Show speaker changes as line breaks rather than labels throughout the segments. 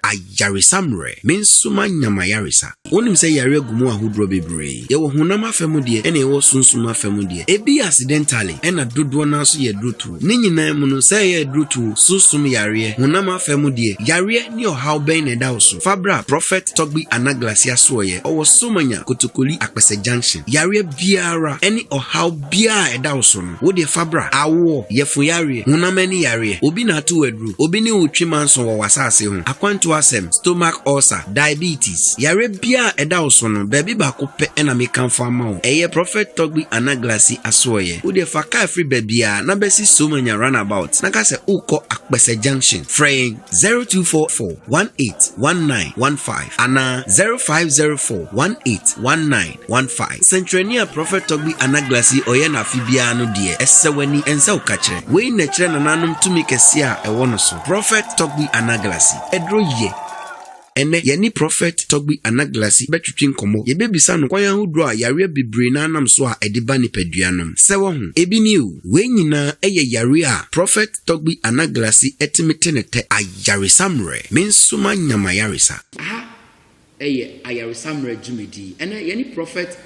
Ayaresa mmerɛ, me nso manya m'ayaresa. Wonim sɛ yareɛ gu mu ahodoɔ bebree. Yɛwɔ honam afa mu deɛ ɛna yɛwɔ sunsum afa mu deɛ. Ebi yɛ accidentally ɛna dodoɔ no ara nso yɛ adurotoo. Ne nyinaa mu no, sɛ ɛyɛ adurotoo, sunsum yareɛ, honam afa mu deɛ, yareɛ ne ɔhaw bɛn na ɛda wo so? Fa bra Prophet Togbi Anaglasia Soɔyɛ, ɔwɔ Somanya, Kotokoli, Akpɛsɛ Junction. Yareɛ biara ɛne ɔhaw. biara a ɛda wo so no, wo deɛ fa bra. Awoɔ, yafuyareɛ, honam ani yareɛ, obi na ato wo aduro, obi ne wo twi manso wɔ w'asaase ho, akwantuo asɛm, stomach ulcer, diabetes, yareɛ biara a ɛda wo so no, baabi baako pɛ na mekamfo ama wo, ɛyɛ Prɔfɛt Togbi Anaglasi asoɛeɛ. Wo deɛ fa kaa firi baabiara na bɛsi Somanya Runabout na ka sɛ wokɔ Akpɛsɛ Junction. Frɛ yɛn 0244 18 19 15 anaa 0504 18 19 one five. Sɛnkyerɛnne a Prɔfɛt Tɔgbi Anaglas yi ɔyɛ no afe biara no deɛ, ɛsɛ w'ani, ɛnsɛ wo ka kyerɛ. Wei na ɛkyerɛ nananom tumi kɛseɛ a ɛwɔ no so. Prɔfɛt Tɔgbi Anaglasi, ɛduro yɛ. Ɛnnɛ, yɛne Prɔfɛt Tɔgbi Anaglasi bɛtwetwe nkɔmmɔ. Yɛbɛbisa no kwan ahodoɔ a yareɛ bebree no ara nam so a ɛde ba nipadua nom. Sɛ wahu, ebi nie o. Wei nyinaa ɛyɛ yareɛ a Prɔfɛt Tɔgbi Anaglasi ɛtumi te ne tɛ. Ayaresa mmerɛ. Me nso manya m'ayaresa. Aha yɛ ayaresammera dwumadi. Ɛnnɛ, yɛne Prɔfɛt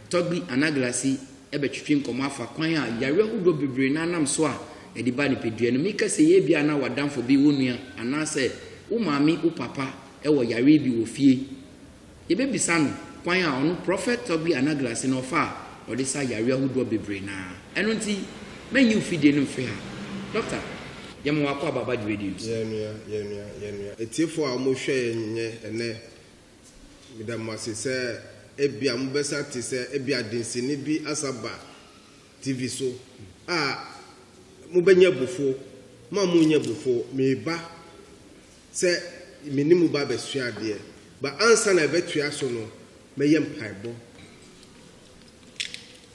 Togbi Anaglasy bɛtwetwe nkɔmmɔ afa kwan a yare ahodoɔ bebree no anam so a ɛde ba nipadua no mu. Meka sei ebia na w'adamfo bi, wo nua, anaasɛ wo maame, wo papa wɔ yareɛ bi wɔ fie. Yɛbɛbisa no kwan a ɔno Prɔfɛt Togbi Anaglasy no ɔfa a ɔde sa yareɛ ahodoɔ bebree no ara. Ɛno nti, mɛnyi wo fidie no mfiri ha. Doctor, yɛma wo akɔ Ababa dwumadie no so. Yɛn nua, yɛn nua, yɛn nua. Atiefo a wɔhwɛ yɛn nnɛ, ɛnnɛ, meda mo ase sɛ ebia mobɛsan ate sɛ ebia densini bi asan aba TV so a mobɛnya abufuo. Mo a monnya abufuo, mereba sɛ me ne mo ba abɛsua adeɛ. But ansa na ɛbɛtoa so no, mɛyɛ mpaebɔ.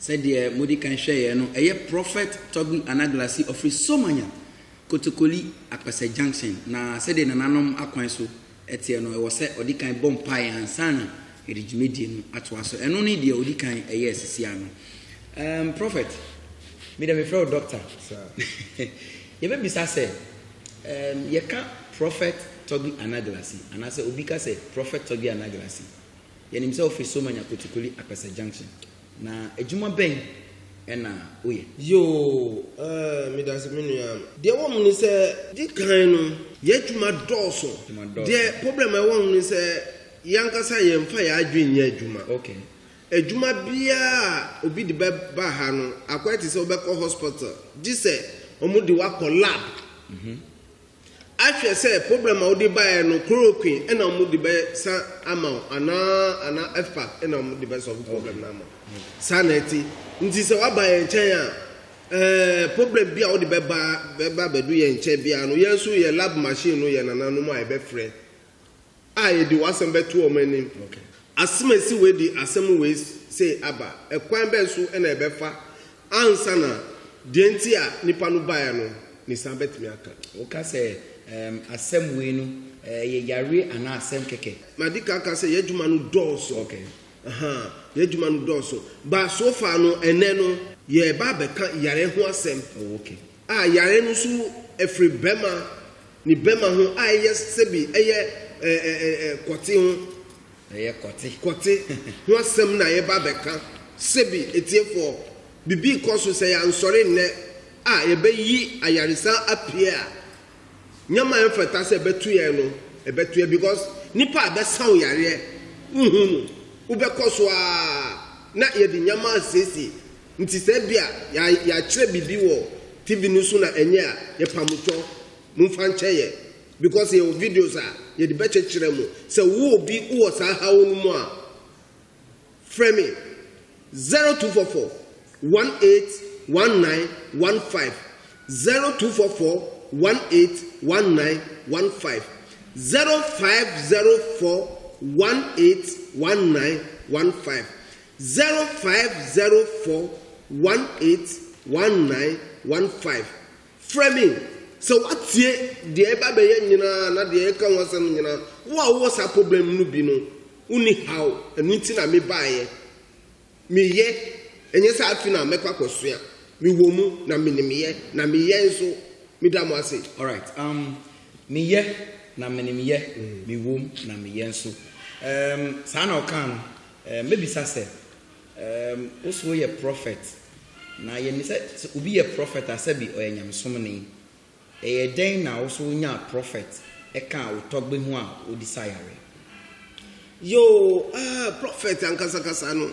Sɛdeɛ mode kan hwɛeɛ no, ɛyɛ Prophet Toby Anaglasi ɔfiri Somanya, Kotokoli, Akpɛsɛ Junction, na sɛdeɛ nananom akwan so teɛ no, ɛwɔ sɛ ɔde kan bɔ mpaeɛ ansa na yɛde dwumadie no atoa so. Ɛno ne deɛ ɔdi kan yɛɛ sisi ano. Um, Prophet, me deɛ mefrɛ wo Doctor. Yɛbɛbisa sɛ, um, yɛka Prophet Toby Anaglasi, anaasɛ obi ka sɛ Prophet Toby Anaglasi, Yɛnim sɛ wofiri Somanya Kotukoli Apɛsɛ Junction, na adwuma bɛn na woyɛ? Yoo, eh, medase me nua. Deɛ ɛwɔ mu ne sɛ, di kan no, yɛn adwuma dɔɔso. Adwuma dɔɔso. Deɛ problem a ɛwɔ ho ne sɛ, yɛn ankasa yɛmfa yɛn adwene nyɛ adwuma. Okay. Adwuma biara a obi de bɛba ha no, akɔyɛ te sɛ wobɛkɔ hospital, gye sɛ wɔde wo akɔ lab. Mhm. Ahwɛ sɛ problem a wode baeɛ no chloroquine na wɔde bɛ sa ama wo anaa anaa fpac na wɔde bɛ solve problem no ama wo saa na ɛte nti sɛ waba yɛn nkyɛn a ɛɛ problem bi a wode bɛba bɛba bɛdu yɛn nkyɛn biara no yɛn nso yɛ lab machine no yɛ nananom a yɛbɛfrɛ a yɛde w'asɛm bɛto wɔn anim. Asem a esi wei de asem wei sei aba. Ɛkwan bɛn so na yɛbɛfa ansa na deɛ nti a nipa no baeɛ no ne saa bɛtumi aka? Woka sɛ ɛɛm asem wei no ɛyɛ yareɛ anaa asem kɛkɛ? Madi kan aka sɛ y'adwuma no dɔɔso. Okay. Ahaa, y'adwuma no dɔɔso. But so far no, ɛnnɛ no, yɛreba abɛka yare ho asem. Oh, okay. a yare no so firi bɛma ne bɛma ho a ɛyɛ sɛbi ɛyɛ ɛ ɛ ɛ kɔte ho ɛyɛ kɔte kɔte ho asɛm na yɛba bɛka sɛbi ɛtiefoɔ bibi kɔ so sɛ yɛansɔre nnɛ a yɛbɛyi ayaresa apue a nyɛma ɛmfata sɛ ɛbɛto yɛn no ɛbɛto yɛn because nipa a bɛsa wo yareɛ wohu no wobɛkɔ so a na yɛde nyɛma asiesie Nti sɛ ebia ya yɛakyerɛ biribi wɔ TV no so na ɛnyɛ a, yɛpamo twɔ. Momfa nkyɛ yɛ. Because yɛwɔ videos a yɛde bɛkyekyerɛ mo. Sɛ wo obi wowɔ saa haw no mu a, frɛ me 0244 181915, 0244 181915, 0504 181915. Zero five zero four one eight one nine one five Frɛ me sɛ woatie deɛ ɛreba abɛyɛ nyinaa na deɛ yɛka ho asɛm nyinaa. Wo a wowɔ saa problem no bi no, wonni haw, ɛno nti na mebaeɛ. Meyɛ, ɛnyɛ sɛ afi na mɛkɔ akɔsua. Mewɔ mu na menimyɛ, na meyɛ nso. Meda mo ase. Alright, um, meyɛ na menimyɛ, mewɔ mu na meyɛ nso. Um, saa na ɔkaa no. Ɛɛ mɛbisa sɛ, ɛɛm wo se woyɛ prɔfɛt, na yɛ nim sɛ sɛ obi yɛ prɔfɛt a sɛbi ɔyɛ nyamesomni. Ɛyɛ dɛn na wo so wonyaa prɔfɛt ɛkaa wo tɔgbe ho a wodi sa yare? Yoo, ah prɔfɛt ankasakasa no,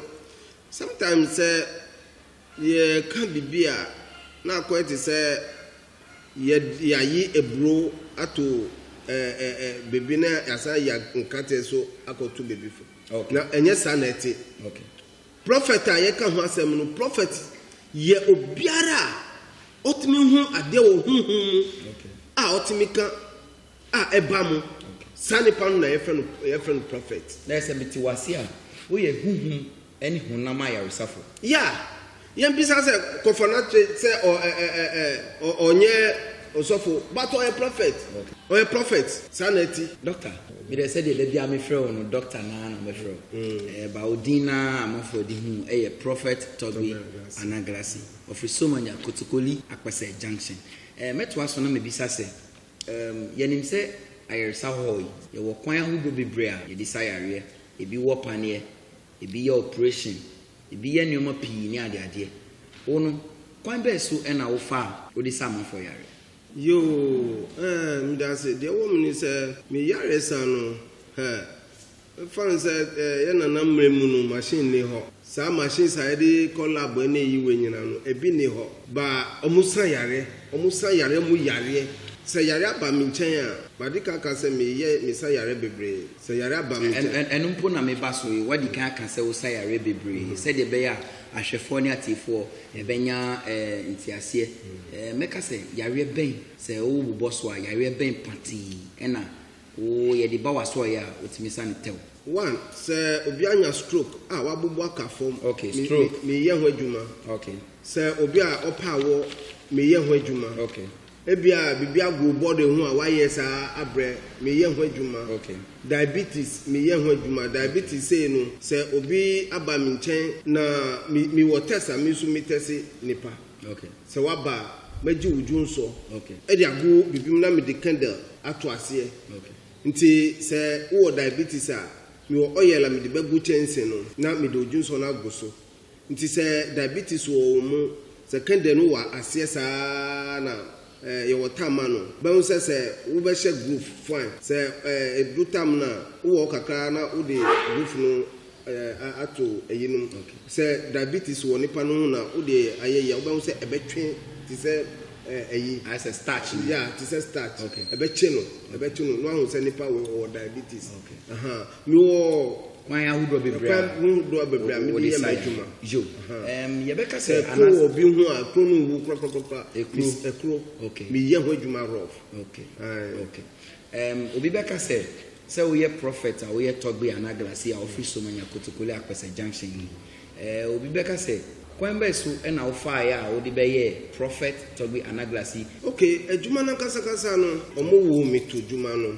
sometimes sɛ Yɛreka biribi a, na akɔyɛ te sɛ yɛayi aburow ato baabi na yɛasan ayi nkate nso akɔto baabi foforo. Na ɛnyɛ saa na ɛte. Prɔfɛt a yɛka ho asɛm no, prɔfɛt yɛ obiara a ɔtumi hu adeɛ wɔ honhom mu a ɔtumi ka a ɛba mu. Saa nipa no na yɛfrɛ no prɔfɛt. Na sɛ mete wo ase a, woyɛ honhom ne honam ayaresafo. Yɛ a, yɛmpisa sɛ, Kɔfa no akyerɛ sɛ ɔ ɛ ɛ ɛ ɛ ɔ ɔnyɛ ɔsɔfo, but ɔyɛ prɔfɛt. Ɔyɛ prɔfɛt. Saa na ɛte. Dɔkta, me deɛ sɛdeɛ da biara mefrɛ wo no Dɔkta no ara na mɛfrɛ wo. Ɛɛ ba wo din no ara a amanfoɔ de hu wo yɛ Prɔfɛt Tɔgbe Anagrasi. Ɔfiri Somanya, Kotsokoli, Akpɛsɛ Junction. Ɛɛ mɛtoa so na mabisa sɛ, Yɛnim sɛ ayaresa hɔ yi, yɛwɔ kwan ahodoɔ bebree a yɛde sa yareɛ. Ebi wɔ paneɛ, ebi yɛ operation, ebi yɛ nneɛma pii ne adeadeɛ. Wo no, kwan bɛn so na wofa a wode sa amanfoɔ yareɛ? Yoo, eh, medase. Deɛ ɛwɔ mu ne sɛ, me yaresa no, hɛ, Ɛfane sɛ yɛn nana mmerɛ mu no machine nni hɔ, saa machines a yɛde kɔ lab ne yi wei nyinaa no ɛbi nni hɔ but wɔn sa yareɛ, wɔn sa yareɛ mu yareɛ. Sɛ yareɛ aba me nkyɛn a, madi kan aka sɛ me yɛ me sa yareɛ bebree, sɛ yareɛ aba me nkyɛn. Ɛno mpo na me ba so yi, wadi kan aka sɛ wo sa yareɛ bebree sɛdeɛ ɛbɛyɛ a ahwɛfoɔ ne atiefoɔ ɛbɛnya nteaseɛ. Mɛka sɛ yareɛ bɛn, sɛ wo bobɔ so a, yareɛ bɛn patee ɛna Wo yɛ de ba w'asɔɔeɛ a wotumi sa no tɛw. One, sɛ obi anya stroke a w'abubu aka fam, Okay, me, me, stroke. meyɛ ho adwuma. Okay, Sɛ obi a ɔpɛ awɔ, meyɛ ho adwuma. okay, Ebia biribi ago wo body ho a w'ayɛ saa abrɛ, meyɛ ho adwuma. okay. Diabetes, meyɛ ho adwuma. Diabetes sei no, sɛ obi aba me nkyɛn na me, mewɔ test a, me nso me tɛse nipa. Sɛ woaba a, mɛgye wo dwonsɔ de ago bibim na mede kɛndɛl ato aseɛ. Nti sɛ wowɔ diabetes a, mewɔ oil a mede bɛgo kyɛnse no na mede wo dwonsɔ no ago so. Nti sɛ diabetes wɔ wo mu, sɛ kɛndɛl no wɔ aseɛ saa na Eh yɛwɔ tam ma no. Bɛhu sɛ sɛ wo bɛ hyɛ groove fine. Sɛ eh ɛduru tam no a, wo wɔ hɔ kakra ara na wo de groove no eh a ato ɛyi nom. Sɛ diabetes wɔ nipa no ho na wo de ayɛ yi a, wo bɛhu sɛ ɛbɛ twe te sɛ eh ɛyi. Ayɛ sɛ starch no. Yeah, te sɛ starch. Ɛbɛ kye no, ɛbɛ kye no na wahu sɛ nipa wɔ wɔ diabetes. Ahaa. Mewɔ kwan ahodoɔ bebree a kwan hodoɔ bebree a mede yɛ m'adwuma. Yo, um, yɛbɛka sɛ anas. Sɛ ɛkoro obi ho a, ɛkoro no nwu korakora. Ɛkuro. Ɛkuro. Okay. Meyɛ ho adwuma ahorow. Okay. Aye. Okay. Um, obi bɛka sɛ sɛ woyɛ prɔfɛt a woyɛ tɔgbe anaa glasi a wofiri somanya kotokoli akpɛsɛ junction yi eh, obi bɛka sɛ kwan bɛɛ so ɛna wofaaeɛ a wode bɛyɛɛ prɔfɛt tɔgbe anaa glasi. Okay, adwuma no ankasakasa no, wɔn woo me to adwuma no.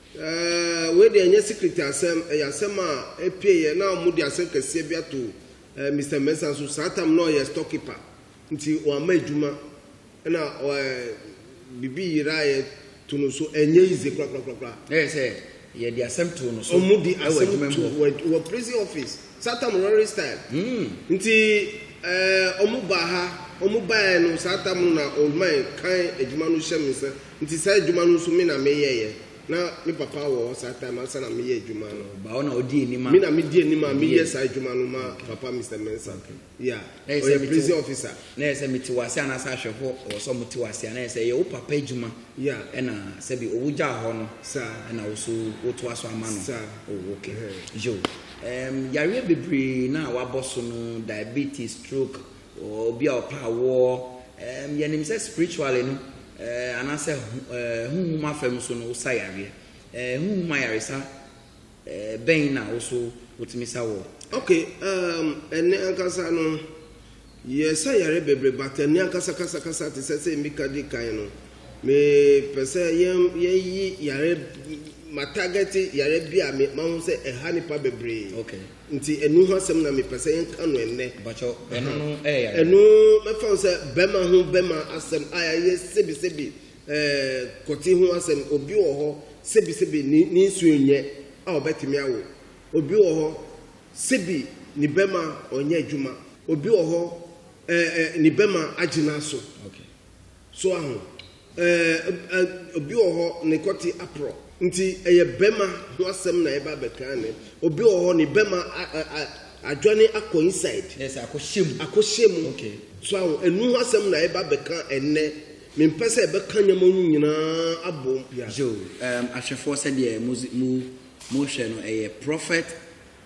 Ɛɛɛ wei deɛ ɛnyɛ secret asɛm, ɛyɛ asɛm a ɛpieeɛ na wɔde asɛm kɛseɛ bi ato ɛɛ Mister Mensah so. Saa tam no na ɔyɛ store keeper nti wamma adwuma ɛna ɛɛ biribi yeraeɛ to no so. Ɛnyɛ easy korakorakorakora. Na yɛ sɛ yɛde asɛm too no so Wɔde wɔ asɛm adwuma mu too hɔ. wɔ adwu wɔ prison office. Saa tam no Rorry style. Hmm. Nti ɛɛ wɔbaa ha, wɔbaeɛ no saa tam no na Oldman kan adwuma no hyɛ me nsa Nti saa adwuma no nso me na me yɛeɛ, na me papa wɔ hɔ saa time ansa na me yɛ adwuma no. Ɔba hɔ na ɔdi anim a. Me na me di anim a me yɛ saa adwuma no ma papa Mister Mensah. Okay. Yeah. Ɔyɛ prison officer. Na yɛ sɛ me te wase anaa sɛ ahwɛfoɔ wɔ sɛ ɔmo te wase a na yɛ sɛ yɛ wo papa adwuma. Yeah. Ɛna sɛ bi owo gyaa hɔ no. Saa. Ɛna wo so wo to aso ama no. Saa. Oh okay. Uh-huh. Yo. Um, yareɛ bebree na wabɔ so no diabetes, stroke, Obi a ɔpɛ awoɔ, ɛɛm, yɛnim sɛ spiritually no, ɛɛ, anaasɛ ho, ɛɛ, honhom afam so no, wosa yareɛ. Ɛɛ, honhom ayaresa, ɛɛ, bɛn na wo so wotumi sa wɔ? Ok, ɛɛm, ɛnnɛ ankasa no, yɛsa yareɛ bebree, but ɛnnɛ ankasa kasa kasa te sɛ sɛ mika di kan no, me pɛ sɛ yɛn, yɛyi yareɛ, ma target yareɛ bi a me, mahu sɛ ɛha nipa bebree. Ok. Nti ɛno ho asɛm na mepɛ sɛ yɛka no ɛnnɛ. Mpakyɛw, ɛno no ɛyɛ yare. Ɛno mɛfa no sɛ bɛma ho bɛma asɛm a ɛyɛ sebisebi, ɛɛ, kɔte ho asɛm. Obi wɔ hɔ, sebisebi ne, ne nsuo nnyɛ a ɔbɛtumi awo. Obi wɔ hɔ, sebi ne bɛma ɔnyɛ adwuma. Obi wɔ hɔ, ɛɛ, ɛɛ, ne bɛma agye no aso. Okay. So aho? Ɛɛ obi wɔ hɔ ne kɔte aporɔ nti ɛyɛ bɛma ho asɛm na ɛba bɛka ne obi wɔ hɔ ne bɛma adwane akɔ inside yes akɔhyɛ mu akɔhyɛ mu okay so aho ɛnu ho asɛm na ɛba bɛka ɛnɛ mempɛ sɛ ɛbɛka nneɛma mu nyinaa abom yeah so um, ahwɛfoɔ sɛdeɛ mu mu mu hwɛ no ɛyɛ prophet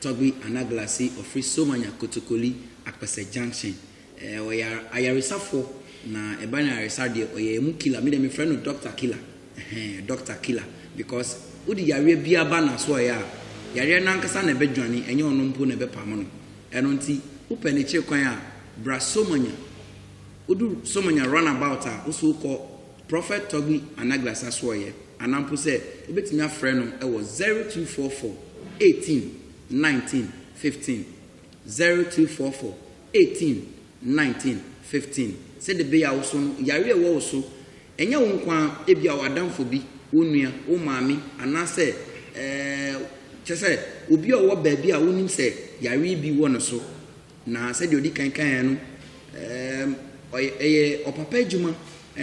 Togby Anaglasi ɔfiri Somanya Kotokoli Akpɛsɛ junction Eh ɔyar ayaresafo na ɛba no ayaresa deɛ ɔyɛ ɛmu killer me deɛ mefrɛ no doctor killer ɛhɛn doctor killer because wode yareɛ biara ba nasoɔɛ a yareɛ nankasa na ɛbɛdwane ɛnyɛ ɔno mpo na ɛbɛpam no ɛno nti wopɛ ne kyere kwan a bra somanya wodu somanya run about a woso wokɔ prophet togbi anagla sasoɔɛ anaa mpo sɛ wobɛtumi afrɛ no ɛwɔ 0244 18 19 15 0244 18, 19, 15, Sɛdeɛ ɛbɛyɛ a wo so no, yareɛ a ɛwɔ wo so, ɛnyɛ wo nko ara, ebia w'adamfo bi, wo nua, wo maame, anaasɛ, ɛɛ, kyerɛ sɛ, obi a ɔwɔ baabi a wonim sɛ yareɛ bi wɔ ne so, na sɛdeɛ ɔdi kan kaeɛ no, ɛɛm, ɔyɛ, ɛyɛ ɔpapa adwuma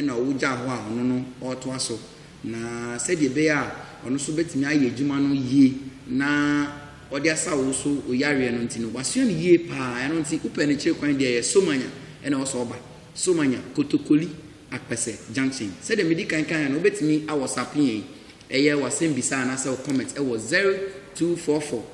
na wogyaa hɔ a ɔno no ɔretoa so. Na sɛdeɛ ɛbɛyɛ a ɔno nso bɛtumi ayɛ adwuma no yie na ɔde asa wo so wo yareɛ no nti no, wasua no yie pa ara. Ɛno nti, wopɛ no kyiri kwan deɛ a, ɛyɛ Somanya na ɛwɔ sɛ ɔba. Somanya, Kotokoli, Akpɛsɛ junction. Sɛdeɛ medi kan kaeɛ no, wobɛtumi a whatsapp yɛn, ɛyɛ w'asɛmmisa anaasɛ wo comment wɔ zero two four four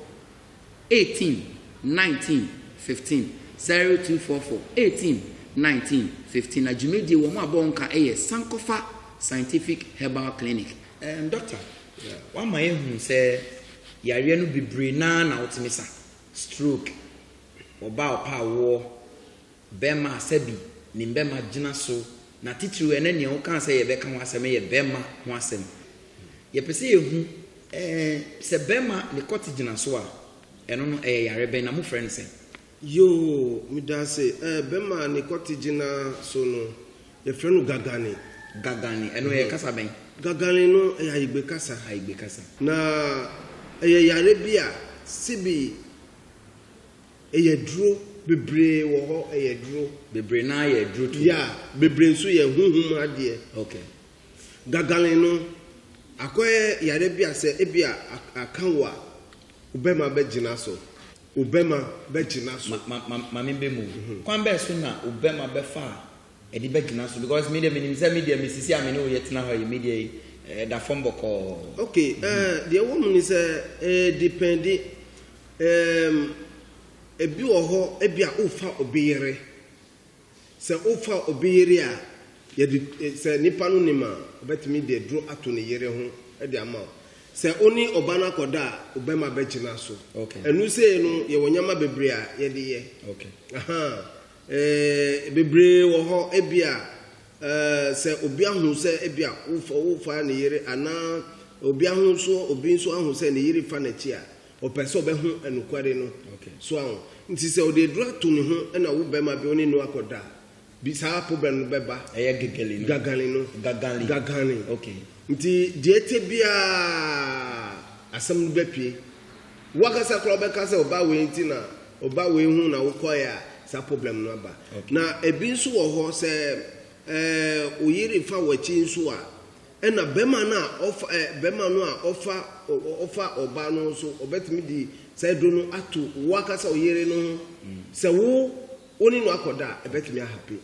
Eighteen, nineteen, fifteen, Zero, two, four, four, Eighteen, nineteen, fifteen, Na dwumadie wɔn a bɔ wɔn ka yɛ Sankofa Scientific Herbal Clinic. Ɛɛm Doctor, w'ama yɛahunu sɛ yareɛ no bebree no ara na wotumi sa, Stroke, ɔbaa ɔpɛ awoɔ, Bɛmma Asabi ne Mbɛmma gyina so, na titiriw ɛnnɛ nea wokaa sɛ yɛbɛka ho asɛm yɛ bɛmma ho asɛm. Yɛpɛ sɛ yɛhu eh, sɛ bɛmma ne kɔte gyina so a, ɛno no ɛyɛ yare bɛn na mofrɛ no sɛn? Yoo, medaase eh, bɛmma ne kɔte gyina so no, yɛfrɛ no gagane. Gagane, ɛno ɛyɛ kasa bɛn? Gagane no, ɛyɛ Ayigbe kasa. Ayigbe kasa. Na ɛyɛ yare bi a, sebi. Ɛyɛ duro bebree wɔ hɔ ɛyɛ duro. Bebree naa yɛ duro too. Yeah bebree nso yɛ huhum adeɛ. Okay. Gagalen no akɔyɛ yare bi a sɛ ebi a aka wo a wo bɛma bɛ gyina so. Wo bɛma bɛ gyina so. Ma ma ma mame bɛ mu. Kwan bɛɛ so na wo bɛma bɛfa ɛde bɛgyina so because me deɛ menim sɛ me deɛ mesisi a me ne wo yɛtena hɔ yi me deɛ ɛda fam bɔkɔɔ. ok eh, deɛ wɔ mu ne sɛ eh, depende um, ebi wɔ hɔ ebi a wofa obi yere sɛ wofa obi yere a yɛde eh, sɛ nipa no nim a ɔbɛtumi de duro ato ne yere ho de ama wo sɛ wo ne ɔba no akɔda a ɔbɛma bɛgyina so okay. ɛnu sei no yɛwɔ nneɛma bebree a yɛde yɛ okay. Ee, bebree wɔ hɔ. Ebia, eh, sɛ obi ahu sɛ ebia wofa, wofaa ne yere, anaa obi ahu nso, obi nso ahu sɛ ne yere fa n'akyi a, ɔpɛ sɛ ɔbɛhu nokware no. Okay. So ahu? Nti sɛ ɔde aduru ato ne ho na wo bɛrima bi, wo ne no akɔda a, bi, saa problem no bɛba. Ɛyɛ gagale no. Gagale no. Gagale. Gagale. Okay. Nti deɛ ɛte biara, asɛm no bɛpue. Wankasa koraa wobɛka sɛ ɔba wei nti na ɔba wei ho na wokɔeɛ a saa problem no aba. Na ɛbi nso wɔ hɔ sɛ wo yere fa w'akyi nso a ɛna bɛrima no a ɔfa bɛrima no a ɔfa ɔfa ɔba no nso ɔbɛtumi de saa aduro no ato woakasa wo yere no ho sɛ wo wo ne no akɔda a ɛbɛtumi ahape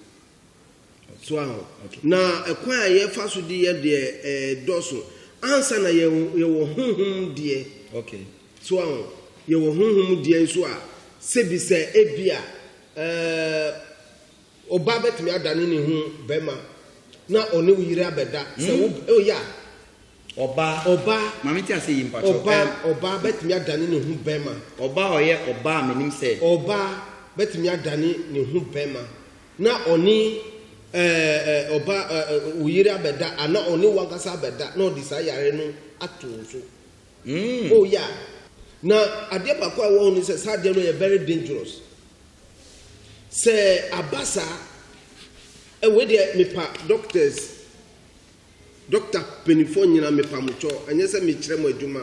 So aho. Na kwan a yɛfa so de yɛ deɛ ɛɛdɔso. Ansa na yɛ yɛwɔ honhom deɛ. Okay. So aho. Yɛwɔ honhom deɛ nso a, sɛbi sɛ ebi a ɛɛ ɔbaa bɛtumi adane ne ho bɛrima na ɔne wo yere abɛda. Sɛ wo oh yeah. Ɔba. Ɔba. Ma me nte aseɛ yie mpakyɛw. Ɔba, ɛm. Ɔba bɛtumi adane ne ho bɛma. Ɔba a ɔyɛ ɔba a menim sɛ. Ɔba bɛtumi adane ne ho bɛma na ɔne ɛɛ ɛɛ ɔba ɛɛ wo yere abɛda anaa ɔne wo ankasa abɛda na ɔde saa yareɛ no ato wo so. Mm. Oh yeah. Na adeɛ baako a ɛwɔ ho ne sɛ saa adeɛ no yɛ very dangerous. Sɛ aba saa, ɛ wei deɛ mepa doctors. Doctor panyinfoɔ nyina mepamokyɔ ɛnyɛ sɛ mekyerɛ mo adwuma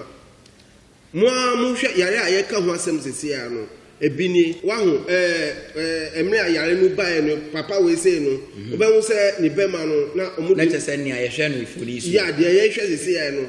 mo ara mo hwɛ yare a yɛka ho asɛm sese ara no ebi nie waho ɛɛ ɛɛ mmerɛ a yare no baeɛ no papa wei sei no mhm. wobɛho sɛ ne bɛma no na ɔmo na kyɛ sɛ nea yɛhwɛ no mfoni so yɛ adeɛ yɛhwɛ sese ara no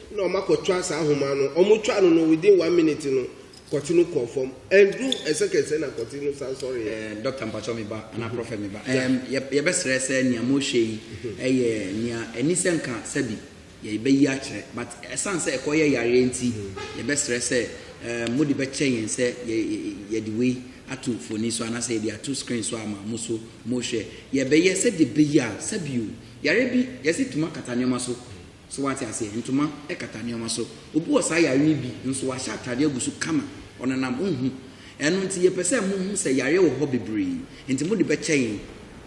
na ɔma kɔtwa saa ahoma no ɔmo twa no no within one minute no kɔte no kɔɔ fam ɛnduru ɛsɛkɛsɛ na kɔte no san sɔre yɛ. Ɛɛ dɔkta mpatsɔ me ba anaa prɔfɛt me ba ɛɛm yɛ yɛbɛsrɛ sɛ nea mo hwɛ yi ɛyɛ nea ɛni sɛ nka sɛbi yɛ bɛ yi akyerɛ but ɛsan sɛ ɛkɔ yɛ yareɛ nti yɛbɛsrɛ sɛ ɛɛm mo de bɛ kyɛ yɛn sɛ yɛ yɛde wei ato mfoni so anaa sɛ yɛde ato screen so ama mo so mo hwɛ yɛ bɛ yɛ sɛdeɛ bɛ yi a sɛbi o yareɛ bi yɛsi tuma kata nneɛma so So wate aseɛ? Ntoma kata nneɛma so. Obi wɔ saa yareɛ yi bi, nso wahyɛ ataadeɛ agu so kama. Ɔnenam, wonhu. Ɛno nti, yɛpɛ sɛ mohu sɛ yareɛ wɔ hɔ bebree. Enti mode bɛkyɛ yɛn.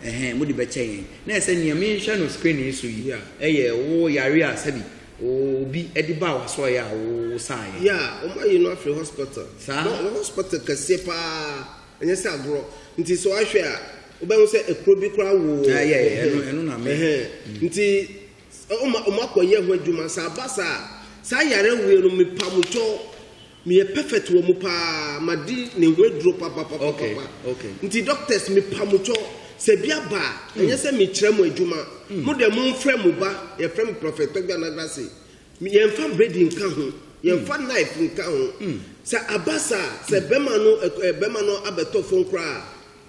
Ɛhɛn, mode bɛkyɛ yɛn. Na ɛsɛ nea menhwɛ no screen yi so yi a, ɛyɛ wo yareɛ a sɛbi obi de baa w'asɔeɛ a wosaeɛ. Yeah, wɔn ayi no afiri hospital. Saa? Na ɔwɔ hospital kɛseɛ paa, ɛnyɛ sɛ agorɔ. Nti sɛ wahwɛ a, wobɛhu sɛ ekuro bi koraa wɔ. Ah, yeah, yeah, ɛno, ɛno na me. Ɛhɛn. Nti Wɔma wɔn akɔ yɛ ho adwuma saa aba saa saa yare wie no me pa mo kyɛw me yɛ perfect wɔ mo paa ma di ne ho aduro papa papa okay, papa okay. nti doctors me pa mo kyɛw sɛ bi aba a mm. ɛnyɛ sɛ me kyerɛ mo adwuma mm. mo dɛ mo nfrɛ mo ba yɛ frɛ mo prophet tɔgba na grase yɛn fa bread nka ho yɛn fa mm. knife nka ho sɛ aba saa sɛ bɛma no bɛma no abɛtɔ fon koraa.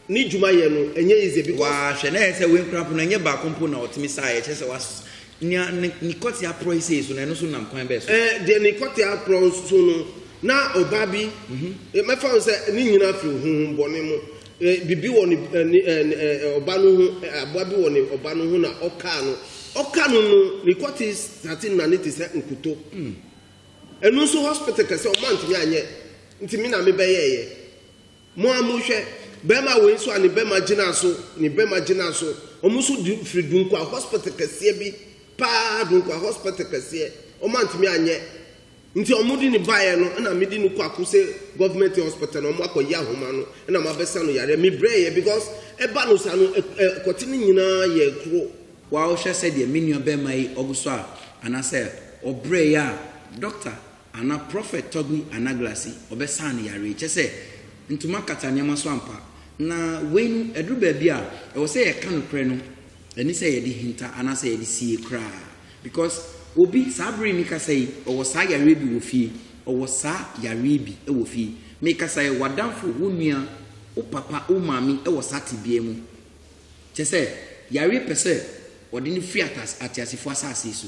ne dwuma yɛ no ɛnyɛ easy because. Waa hwɛ na yɛ sɛ wei nkura mpo na ɛnyɛ baako mpo na ɔtumi saa yɛ kyɛ sɛ was nea ne ne kɔte aporɔ yi sei so na ɛno so nam kwan bɛɛ so. Ɛɛ eh, deɛ ne kɔte aporɔ so no na ɔbaa bi mhm. eh, mɛfa ho sɛ ne nyina firi honhom bɔne mu eh, biribi wɔ ne ɔba no ho aboa bi wɔ ne ɔba no ho na ɔkaa no ɔka no no ne kɔte sate na ne te sɛ nkuto hmm. ɛno nso hospital kɛsɛ ɔma ntumi anyɛ ntumi na mebɛyɛɛyɛ Mo a mo hwɛ bɛɛma wei nso a ne bɛɛma gyinaa so ne bɛɛma gyinaa so ɔmo nso du firi Dunkwa hospital kɛseɛ bi paa Dunkwa hospital kɛseɛ ɔmo antumi anyɛ nti ɔmo de no baeɛ no ɛna me de no kɔ Akose government hospital na ɔmo akɔ yi ahoma no ɛna mo abɛsa no yareɛ me brɛɛyɛ because ɛba no saa no ɛkɔte no nyinaa yɛ koro. Wow hwɛ sɛdeɛ me nua bɛɛma yi ɔgu so a anasɛ ɔbrɛɛyɛ a doctor Ana Prophet Toby Anaglasi ɔbɛsaa ne yare yi? Kyɛsɛ ntoma kata nneɛma so ampa. Na wei no ɛduru baabi a ɛwɔ sɛ yɛka nokorɛ no ɛne sɛ yɛde hinta anaasɛ yɛde sie koraa because obi saa bere yi me kasa yi ɔwɔ saa yareɛ bi wɔ fie ɔwɔ saa yareɛ bi wɔ fie me kasa yi w'adamfo wo nua wo papa wo maame wɔ saa tebea mu kyɛsɛ yareɛ pɛsɛ ɔde no firi atas ateasefo asase so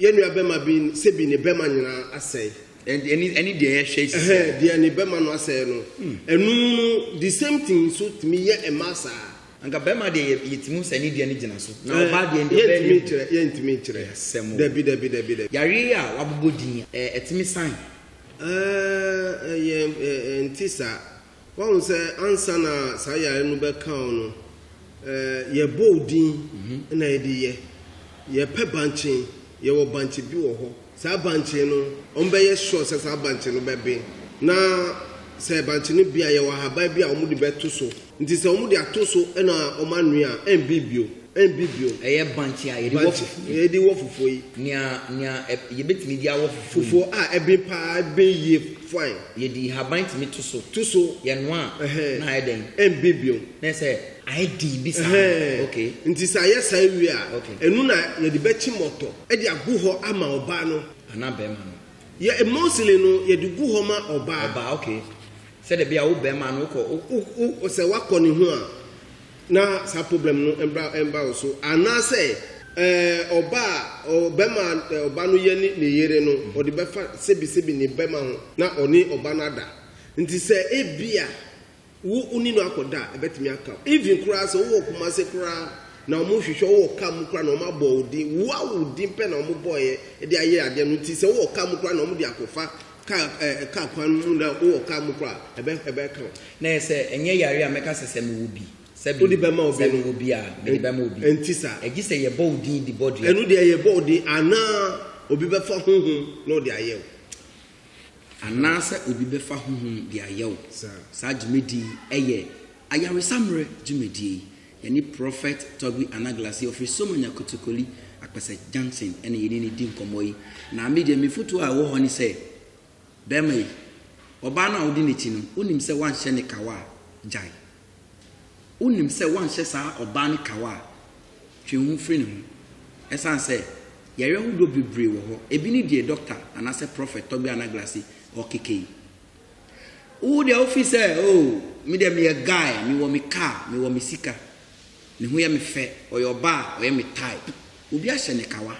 Yɛn nuabɛma bi sɛ bi ne bɛma nyinaa asɛe. Ɛne ɛne deɛ yɛhwɛ yi sɛ. Deɛ ne bɛma no asɛe no. Ɛno mu no the same thing nso tumi yɛ mmaa saa. Anka bɛma deɛ yɛ yɛtumi hu sɛ ɛne deɛ no gyina so na ɔbaa deɛ ndeɛ ɔbaa nim. Yɛntumi nkyerɛ yɛntumi nkyerɛ. Ɛyɛ asɛm o. Dabi dabi dabi dabi. Yareɛ yi a wabobɔ din yi ɛɛ ɛtumi san? Ɛɛ ɛyɛ ɛɛ ɛnte saa. Wahu sɛ ansa na saa yare no bɛka wo no, yɛbɔ wo din na yɛde yɛ. Yɛpɛ bankye, yɛwɔ bankye bi wɔ hɔ. Saa bankye no, wɔbɛyɛ sure sɛ saa bankye no bɛben. Na sɛ bankye no ben a, yɛwɔ ahaban bi a wɔde bɛto so. Nti sɛ wɔde ato so na wɔanoa a, ɛmben bio. Ɛmpi bio. Ɛyɛ bankye a yɛde wɔ fufuo yi. Yɛde wɔ fufuo yi. Nea nea yɛbɛtumi de awɔ fufuo yi. Fufuo a ɛben paa, ɛben yie fine. Yɛde nhaban tumi to so. To so. Yɛnoa a, na ayɛ dɛn? Ɛmben bio. Na ayɛ sɛ ayɛ den bi saa. Okay. Nti sɛ ayɛ saa wie a, ɛno na yɛde bɛkye mmɔtɔ de agu hɔ ama ɔbaa no. Anaa barima no. Yɛ mostly no, yɛde gu hɔ ma ɔbaa. Ɔbaa, okay. Sɛdeɛ ɛbɛyɛ a wo barima no wokɔ, wo, wo, wo, sɛ woakɔ ne ho a. Na saa problem no mbra mba wo so anaasɛ eh, ɔba a ɔ, bɛma eh, ɔba no yɛ ne ne yere no, ɔde bɛfa sɛbisɛbi ne bɛma ho na ɔne ɔba no ada. Nti sɛ ebia wo wone no akɔda a, ɛbɛtumi aka wo. Even koraa sɛ wowɔ Kumase koraa na ɔmo hwehwɛ wo wɔ car mu koraa na ɔmo abɔ wo din, woa wo din pɛ na ɔmo bɔeɛ de ayɛ adeɛ no, nti sɛ wowɔ car mu koraa na ɔmo de akɔfa Car eh car kwan no mu na wo wɔ car mu kora a ɛbɛ ɛbɛ ka wo. Na yɛ sɛ ɛnyɛ yare a mɛka sɛ sɛ me wɔ bi. Sɛbi Wode bɛ ma obi no. Sɛ me wɔ bi a mede bɛ ma obi. Ɛnti saa. Ɛgye sɛ yɛ bɔ wo din de bɔ dua. Ɛno deɛ yɛ bɔ wo din anaa obi bɛ fa honhom na ɔde ayɛ wo. Anaa sɛ obi bɛ fa honhom de ayɛ wo. Saa. Saa dwumadie yi ɛyɛ ayaresa mmerɛ dwumadie yi. Yɛne Prɔfɛt Togui Anaglassie ɔfiri Somanya Kotokoli, Akpɛsɛ Junction na yɛne no di nkɔmmɔ yi. Na me deɛ me fotuo a ɛwɔ hɔ ne sɛ, barima yi, ɔbaa no a wodi n'akyi no, wonim sɛ woanhyɛ no kawa a, gyae. Wonim sɛ woanhyɛ saa ɔbaa no kawa a, twe wo ho firi ne ho. Ɛsiane sɛ yareɛ ahodoɔ bebree wɔ hɔ, ebi ne deɛ Dɔkta anaasɛ Prɔfɛt Togui Anaglassie ɔrekeka yi. Wo deɛ wo feel sɛ oh me deɛ me yɛ guy me wɔ me car me wɔ me sika ne ho yɛ me fɛ ɔyɛ ɔbaa ɔyɛ me type obi ahyɛ ne kawa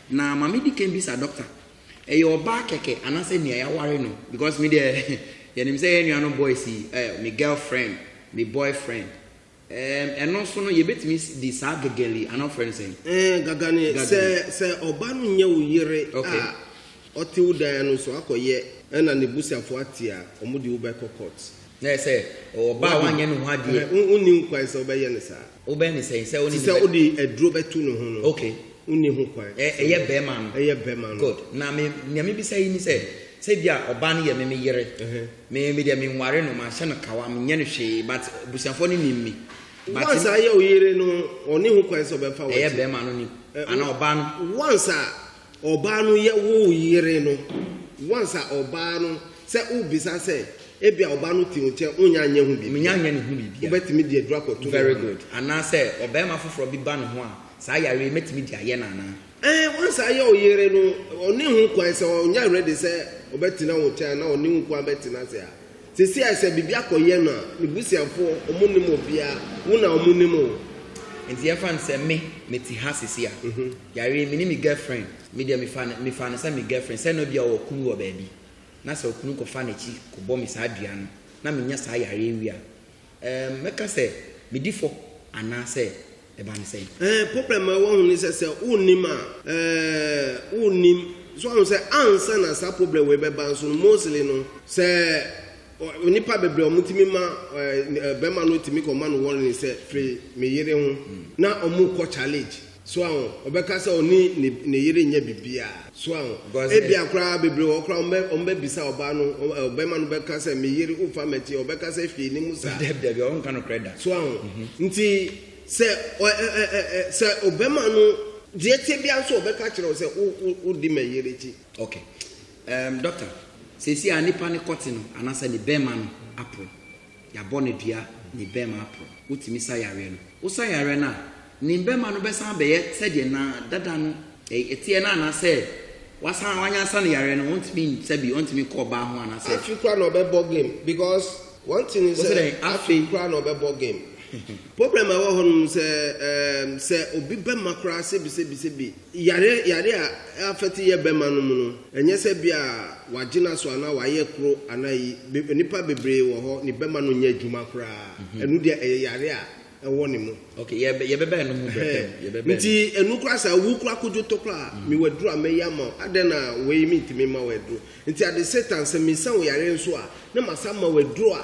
na ma me di kan bisa doctor ɛyɛ ɔbaa kɛkɛ anasɛ nea yaware no because me deɛ yɛnim sɛ yɛn nuanom boys yi eh me girlfriend me boyfriend Ɛɛm, ɛno nso no, yɛbɛtumi de saa gagari, anaa ɔfrɛ no sɛn? Ɛɛn, gagani, sɛ, Gagani. sɛ ɔba no nyɛ wo yere Ok. a, ɔte wo dan no so akɔyɛ ɛna ne busuafoɔ ate a, wɔn de wo bɛkɔ court. Na ayɛ sɛ, ɔba a wanyɛ ne ho adeɛ. Ɛhɛ, wo, wonni ho kwan sɛ wobɛyɛ no saa. Wobɛyɛ no sɛn, sɛ wo ne Te no sɛ bɛ. wode aduro bɛto ne ho no, Ok. wonni ho kwan. Ɛ, ɛyɛ bɛrima no. Ɛyɛ bɛrima no. Good. Na me, nea mebisa yi ne sɛ, sɛ ebia ɔba no yɛ me, me yere. Ɛhɛ. Me me deɛ me nware no manhyɛ no kawa menyɛ no hwee but abusuafoɔ no nim me but. Once a yɛ wo yere no ɔne ho kwan sɛ ɔbɛmfa w'akyi. Ɛyɛ bɛɛma no nim anaa ɔbaa no. Once a ɔbaa no yɛ wo yere no once a ɔbaa no sɛ wo bisa sɛ ebia ɔbaa no te wo nkyɛn wonya nyɛ ho biribiara. Menya nyɛ ne ho biribiara. Wo bɛtumi de aduro akɔto ne ho. Very good anaa sɛ ɔbɛɛma foforɔ bi ba ne ho a saa yareɛ yi mɛtumi de ayɛ no anaa. Ɛɛ, w'ansan yɛ wo yere no, ɔne ho kwan sɛ ɔnyɛ ready sɛ ɔbɛtena wo nkyɛn anaa ɔne wo kwan bɛtena ase a, sɛsi a sɛ biribi akɔyɛ no a, ne busuafoɔ, ɔmo nnim obiaa, wo na ɔmo nim wo. Nti yɛmfa no sɛ me, me te ha sɛsi a, yɛawe, me ne me girlfriend, me deɛ mefa no, mefa no sɛ me girlfriend, sɛ na bia ɔwɔ kunu wɔ baabi, na sɛ okunu kɔfa n'akyi kɔbɔ me saa dua no, na menya saa yareɛ wei a, Ɛɛm, mɛka sɛ medi fɔ anaasɛ ɛba no sɛn? Ɛɛ, problem a ɛwɔ ho ne sɛ sɛ wonnim a, ɛɛ, wonnim. So woahu sɛ ansa na saa problem wei bɛba nso no, mostly no, sɛ ɔ, nnipa bebree a wɔtumi ma, ɛɛ, barima no tumi kɔma no warning sɛ, firi me yere ho, na wɔkɔ challenge. So aho? Ɔbɛka sɛ ɔne ne, ne yere nyɛ biribiara. So aho? Ebia koraa bebree wɔ hɔ koraa wɔbɛ, wɔbɛbisa ɔbaa no, ɔ, ɔbarima no bɛka sɛ, me yere, wofa m'akyi, ɔbɛka sɛ hwee nni mu saa. Dabi, dabi, ɔrenka nokorɛ da. So aho? Nti, sɛ ɔ, ɛ, ɛ, ɛ, ɛ, sɛ ɔbarima no, deɛ ɛteɛ biara nso ɔbɛka akyerɛ wo sɛ, wo, wo, wodi me yere akyi. Ok. Ɛɛm, Dɔkta, seesei a nipa no kɔte no, anaasɛ ne barima no aporo. Yɛabɔ no dua ne bɛmma aprɔ. Wotumi sa yareɛ no. Wosa yareɛ no a, ne bɛmma no bɛsan abɛyɛ sɛdeɛ na dada no teɛ no anaasɛ wasan wanyansa no yareɛ no ɔntumi nsa bi, ɔntumi nkɔ ɔbaa ho anaasɛ. Afei koraa na ɔbɛbɔ game because one thing ne sɛ afei koraa na ɔbɛbɔ game. Problem a ɛwɔ hɔ nom sɛ ɛɛm sɛ obi bɛma koraa sɛbi sɛbi sɛbi yare yare a affect yɛ bɛma nom no ɛnyɛ sɛ bia wagye no aso anaa wayɛ koro anaa ayi be nipa bebree wɔ hɔ ne bɛma no nyɛ adwuma koraa ɛno deɛ ɛyɛ yare a ɛwɔ ne mu. Ok yɛ bɛ yɛ bɛba ɛno ho brɛ pɛm yɛ bɛba ɛno. Nti ɛno koraa sɛ wo koraa kodwo tɔ koraa mewɔ aduro a mɛyɛ ama wo adɛn na wei mentumi mma wo aduro nti ade satan sɛ mesa wo yare nso a na masan ama wo aduro a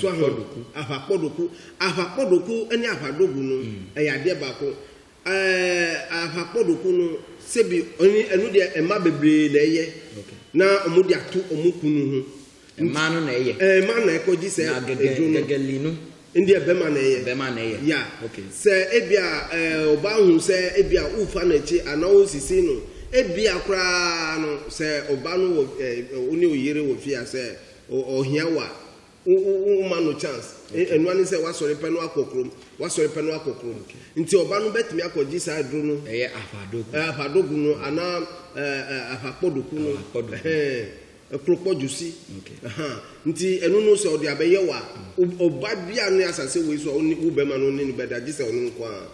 so ahwadoku ahwakpɔdoku ahwakpɔdoku ne ahwadogu no mm. ɛyɛ adeɛ baako ɛɛ ahwakpɔdoku no sɛbi ɔne ɛno deɛ mma bebree na ɛyɛ na wɔn de ato wɔn kunu ho mmaa no na ɛyɛ ɛɛ mmaa na ɛkɔ gye sɛ edwo no gɛgɛli no ndi ɛbɛma na ɛyɛ ɛbɛma na ɛyɛ ya sɛ ebi a ɛɛ ɔbaa hu sɛ ebi a wofa n'akyi anaa wosisi no ebi a koraa no sɛ ɔbaa no wɔ ɛɛ ɔne oyere wɔ fie a sɛ. Ɔhia wo a, wo wo wo ma no chance. E- Ɛnoa ne sɛ wasɔre pɛ no akɔ kurom, wasɔre pɛ no akɔ kurom. Nti ɔba no bɛtumi akɔgye saa aduro no, Ɛyɛ afadogo. eh, afadogo no anaa eh, eh, afakpɔdoku no, Afakpɔdoku. ɛhɛn, kropɔdwosi. Okay. Aha. Nti ɛno no sɛ ɔde abɛyɛ wo a, wo- ɔba biara ne asase wei so a ɔne wo bɛma no ne no bɛda gye sɛ ɔno nko ara.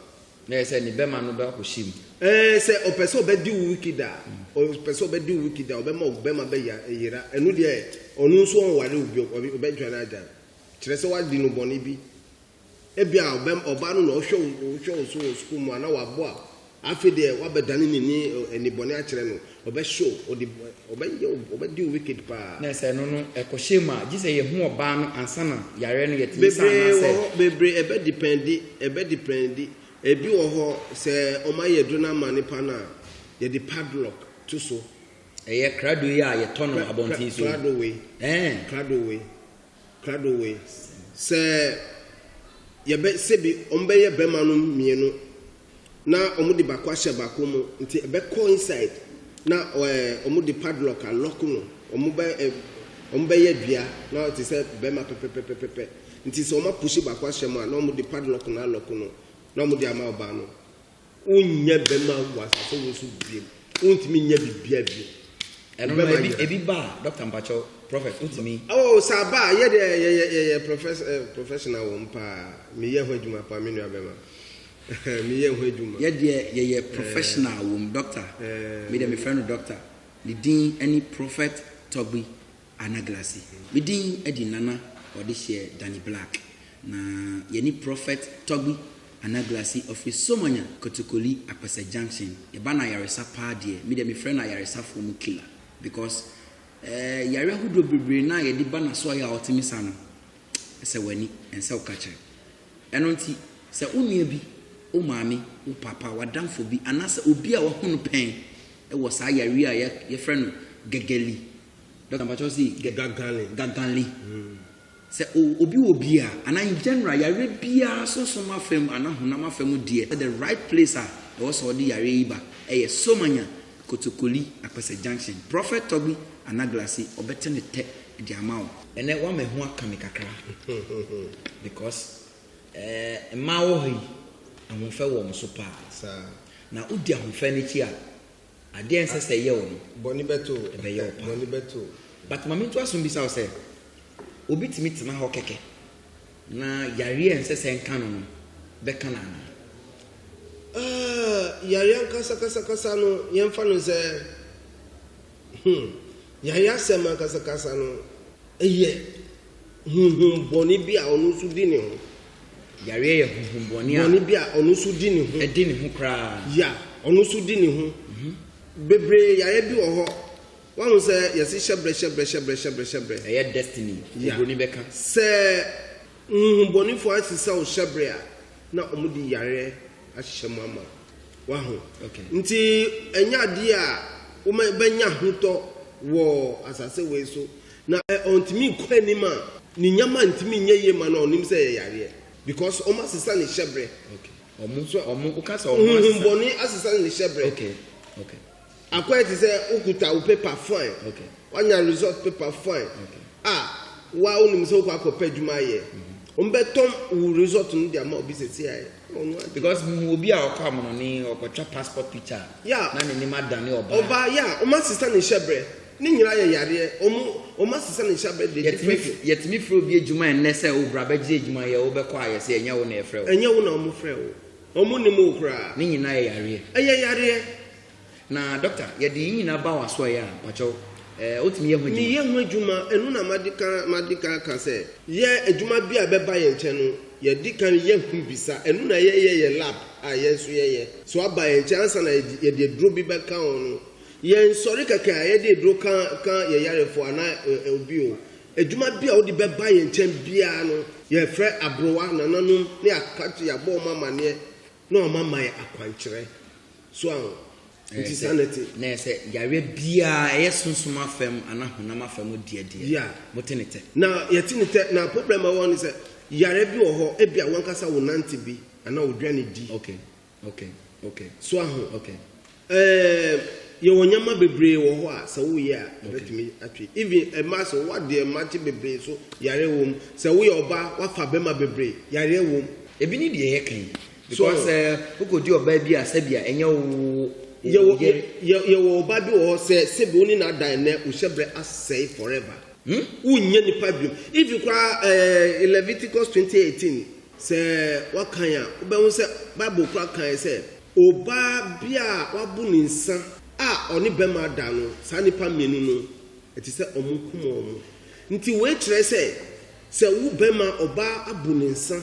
Na ɛyɛ sɛ ne bɛma no bɛakɔhyɛ mu. Ɛɛ sɛ ɔpɛ sɛ ɔbɛdi wo wiki da a, ɔpɛ sɛ ɔbɛdi wo wiki da, ɔbɛma wo bɛma bɛyera. Ɛno deɛ ɔno nso ɔnware wo bio, ɔbɛdwane agyae wo. Kyerɛ sɛ woadi no bɔne bi. Ebia ɔbaa no na ɔhwɛ wo hwɛ wo so wɔ sukuu mu a na waboa wo. Afei deɛ woabɛdane n'ani nnebɔne akyerɛ no. Ɔbɛ show ɔde ɔbɛ yɛ ɔbɛ deal wicked paa. Na sɛ ɛno no ɛkɔ hyɛ mu a gye sɛ yɛ hu ɔbaa no ansa na yareɛ no yɛ tumi saa anaa sɛ. Bebree wɔ hɔ bebree ɛbɛ depɛndi ɛbɛ depɛndi ebi wɔ hɔ sɛ ɔmo ayɛ aduro no ama nipa no a yɛ de padlock to so. Ɛyɛ krado yi a yɛ tɔ no abɔnten so yi. Krado wei. Ɛɛn. Krado wei. Krado wei sɛ yɛbɛ sɛbi ɔmo bɛyɛ bɛma nom mienu na ɔmo de baako ahyɛ baako mu nti ɛbɛ kɔ inside na ɛɛ ɔmo de padlock a lock no ɔmo bɛ ɛɛ ɔmo bɛyɛ dua na ɔte sɛ bɛma pɛpɛpɛpɛpɛ nti sɛ ɔmo apushi baako ahyɛ mu a na ɔmo de padlock no a lock no na ɔmo de ama ɔbaa no. Wonnya bɛma wɔ asase wo so biom. Wontumi nyɛ biribiara biom. Ɛbɛma ebi nyina. ebi ba a doctor mpakyɛw prophet wotumi. Oh, sɛ aba a, yɛ deɛ yɛyɛ yɛyɛ profes eh, professional wɔ mu paa. Meyɛ ho adwuma paa, me nua bɛma. Meyɛ ho adwuma. Yɛ deɛ yɛyɛ professional wɔ mu doctor. Eh, Me deɛ me frɛ no doctor. Ne din ɛne Prophet Togbi Ana Glacy. Me din de Nana Ɔdehyeɛ Danny Black na yɛne Prophet Togbi Ana Glacy ɔfiri Somanya Kotokoli Akpɛsɛ Junction. Yɛba no ayaresa paa deɛ, me deɛ mefrɛ no ayaresafoɔ mu killer because eh, yare ahodoɔ bebree no a yɛde ba n'asoɔeɛ a ɔte me sa no, ɛsɛ w'ani, ɛnsɛ wo ka kyerɛ. Ɛno nti, sɛ wo nua bi, wo maame, wo papa, w'adamfo bi anaasɛ obi a wahu no pɛn wɔ saa yareɛ a yɛfrɛ no gɛgɛli, Dɔkta mpakyɛ ɔsi gaganli gaganli sɛ obi wɔ bi a anaa in general yare biara sunsun afam anaa honam afam deɛ sɛ the right place a ɛwɔ sɛ ɔde yare yi ba ɛyɛ somanya kotokoli akpɛsɛ junction prɔfɛt tɔgbi anaglasi ɔbɛte ne tɛ de ama wo. Ɛnɛ wama ɛho aka me kakra because ɛɛ mmaa wɔ ha yi ahofɛ wɔ wɔn so paa na wodi ahofɛ no akyi a Adeɛ a ɛnsɛ sɛ ɛyɛ wo no, bɔne bɛto wo, ɛbɛyɛ wo paa. Bɔne bɛto wo. But ma mentoa so mbisa wo sɛ, obi tumi tena hɔ kɛkɛ na yareɛ a ɛnsɛ sɛ ɛnka no no bɛka no anaa? Ah, yareɛ ankasakasakasa no, yɛmfa no sɛ, hmm, yareɛ asɛm ankasakasa no, ɛyɛ honhom bɔne bi a ɔno nso di ne ho Yareɛ yɛ honhom bɔne a. Bɔne bi a ɔno nso di ne ho. Ɛdi ne ho koraa. Ya, ɔno nso di ne ho. Bebree yareɛ bi wɔ hɔ, wahu sɛ yɛse hyɛbrɛ hyɛbrɛ hyɛbrɛ hyɛbrɛ hyɛbrɛ. Ɛyɛ destiny, obroni bɛka. Sɛ honhom bɔnefoɔ asesa wo hyɛbrɛ a, na wɔde yareɛ ahyehyɛ mu ama wo. Wahu? Nti ɛnyɛ adeɛ a wobɛnya ahotɔ wɔ asase wei so. Na ɔntumi nkɔ anim a, ne nneɛma ntumi nyɛ yie ma no a, ɔnim sɛ ɛyɛ yareɛ because wɔn asesa ne hyɛbrɛ. Okay. Wɔn so wɔn woka sɛ wɔn asesa. Huhun bɔne asesa ne hyɛbrɛ. Okay. Okay. Akɔyɛ te sɛ wokuta wo paper fine. Okay. Wanya result paper fine. Okay. A wa wonim sɛ wokɔ akɔpɛ adwuma ayɛ. Mm-hmm. Wɔn bɛtɔn wo result no de ama obi sɛ si ayɛ. Because mu obi a ɔkɔ amono ne ɔkɔtwa passport picture. Yeah. Na ne nim adane ɔbaa. Ɔbaa yeah. Wɔn asesa ne hyɛbrɛ. Ne nyinaa yɛ yadeɛ. Ɔmo ɔmo asesa ne nsa bɛ de gye Yɛtumi fɛ. yɛtumi frɛ obi adwuma ɛnnɛ sɛ o bra bɛgye adwuma yɛ wo bɛkɔ a yɛse ɛnyɛ wo na yɛfrɛ wo. Ɛnyɛ wo na ɔmo frɛ wo. Ɔmo nnim wo koraa. Ne nyinaa yɛ yareɛ. Ɛyɛ yareɛ. Na doctor yɛde yi nyinaa ba w'asoɛeɛ a mpakyɛw ɛɛ wotumi yɛ ho adwuma. Meyɛ ho adwuma. Ɛno na madi kan madi kan aka sɛ yɛ adwuma biara ɛbɛba yɛn nkyɛn no yɛdi kan yɛ ho bisa. Ɛno na yɛyɛ yɛ lab a yɛn nso yɛyɛ. So aba yɛn nkyɛn ansa na yɛde yɛde aduro bi bɛka ho no Yɛn nsɔre kɛkɛ a yɛde aduro ka ka yɛn yarefo anaa ɛ obi o adwuma bi a wode bɛba yɛn nkyɛn biara no, yɛfrɛ aborowa nananom na yɛaka akyerɛ yɛabɔ wɔn amaneɛ na wɔn ama yɛn akwankyerɛ. So aho? Nti saa na ɛte. Na sɛ yareɛ biara ɛyɛ sunsum afam anaa honam afam deɛ deɛ Yeah. mote ne tɛ. Na yɛte ne tɛ na problem a ɛwɔ hɔ ne sɛ yareɛ bi wɔ hɔ ebia wankasa wonante bi anaa wodwane di. Okay. Ok ok so aho ok um, yɛwɔ nneɛma bebree wɔ hɔ a sɛ woyɛ a ɛbɛtumi atwe even ɛma sɛ woadeɛ mmakye bebree so yareɛ wɔ mu sɛ woyɛ ɔbaa wafa bɛma bebree yareɛ wɔ mu. Ebi ne deɛ yɛka yi because sɛ wokɔdi ɔbaa bi a sɛbia ɛnyɛ wo yɛwɔ yere. Yɛwɔ ɔbaa bi wɔ hɔ sɛ sɛbi wo ne no ada ɛnnɛ wo hyɛbrɛ asɛe forever. Hmm? Wonnya nipa biom even koraa ɛɛ Leviticus twenty eighteen. Sɛ wɔkan a, wobɛhu sɛ Bible kora kae sɛ obaa bi a wabu ne nsa a ɔne bɛma ada no, saa nnipa mmienu no, ɛte sɛ wɔkum wɔn. Nti wei kyerɛ sɛ, sɛ wo bɛma obaa abu ne nsa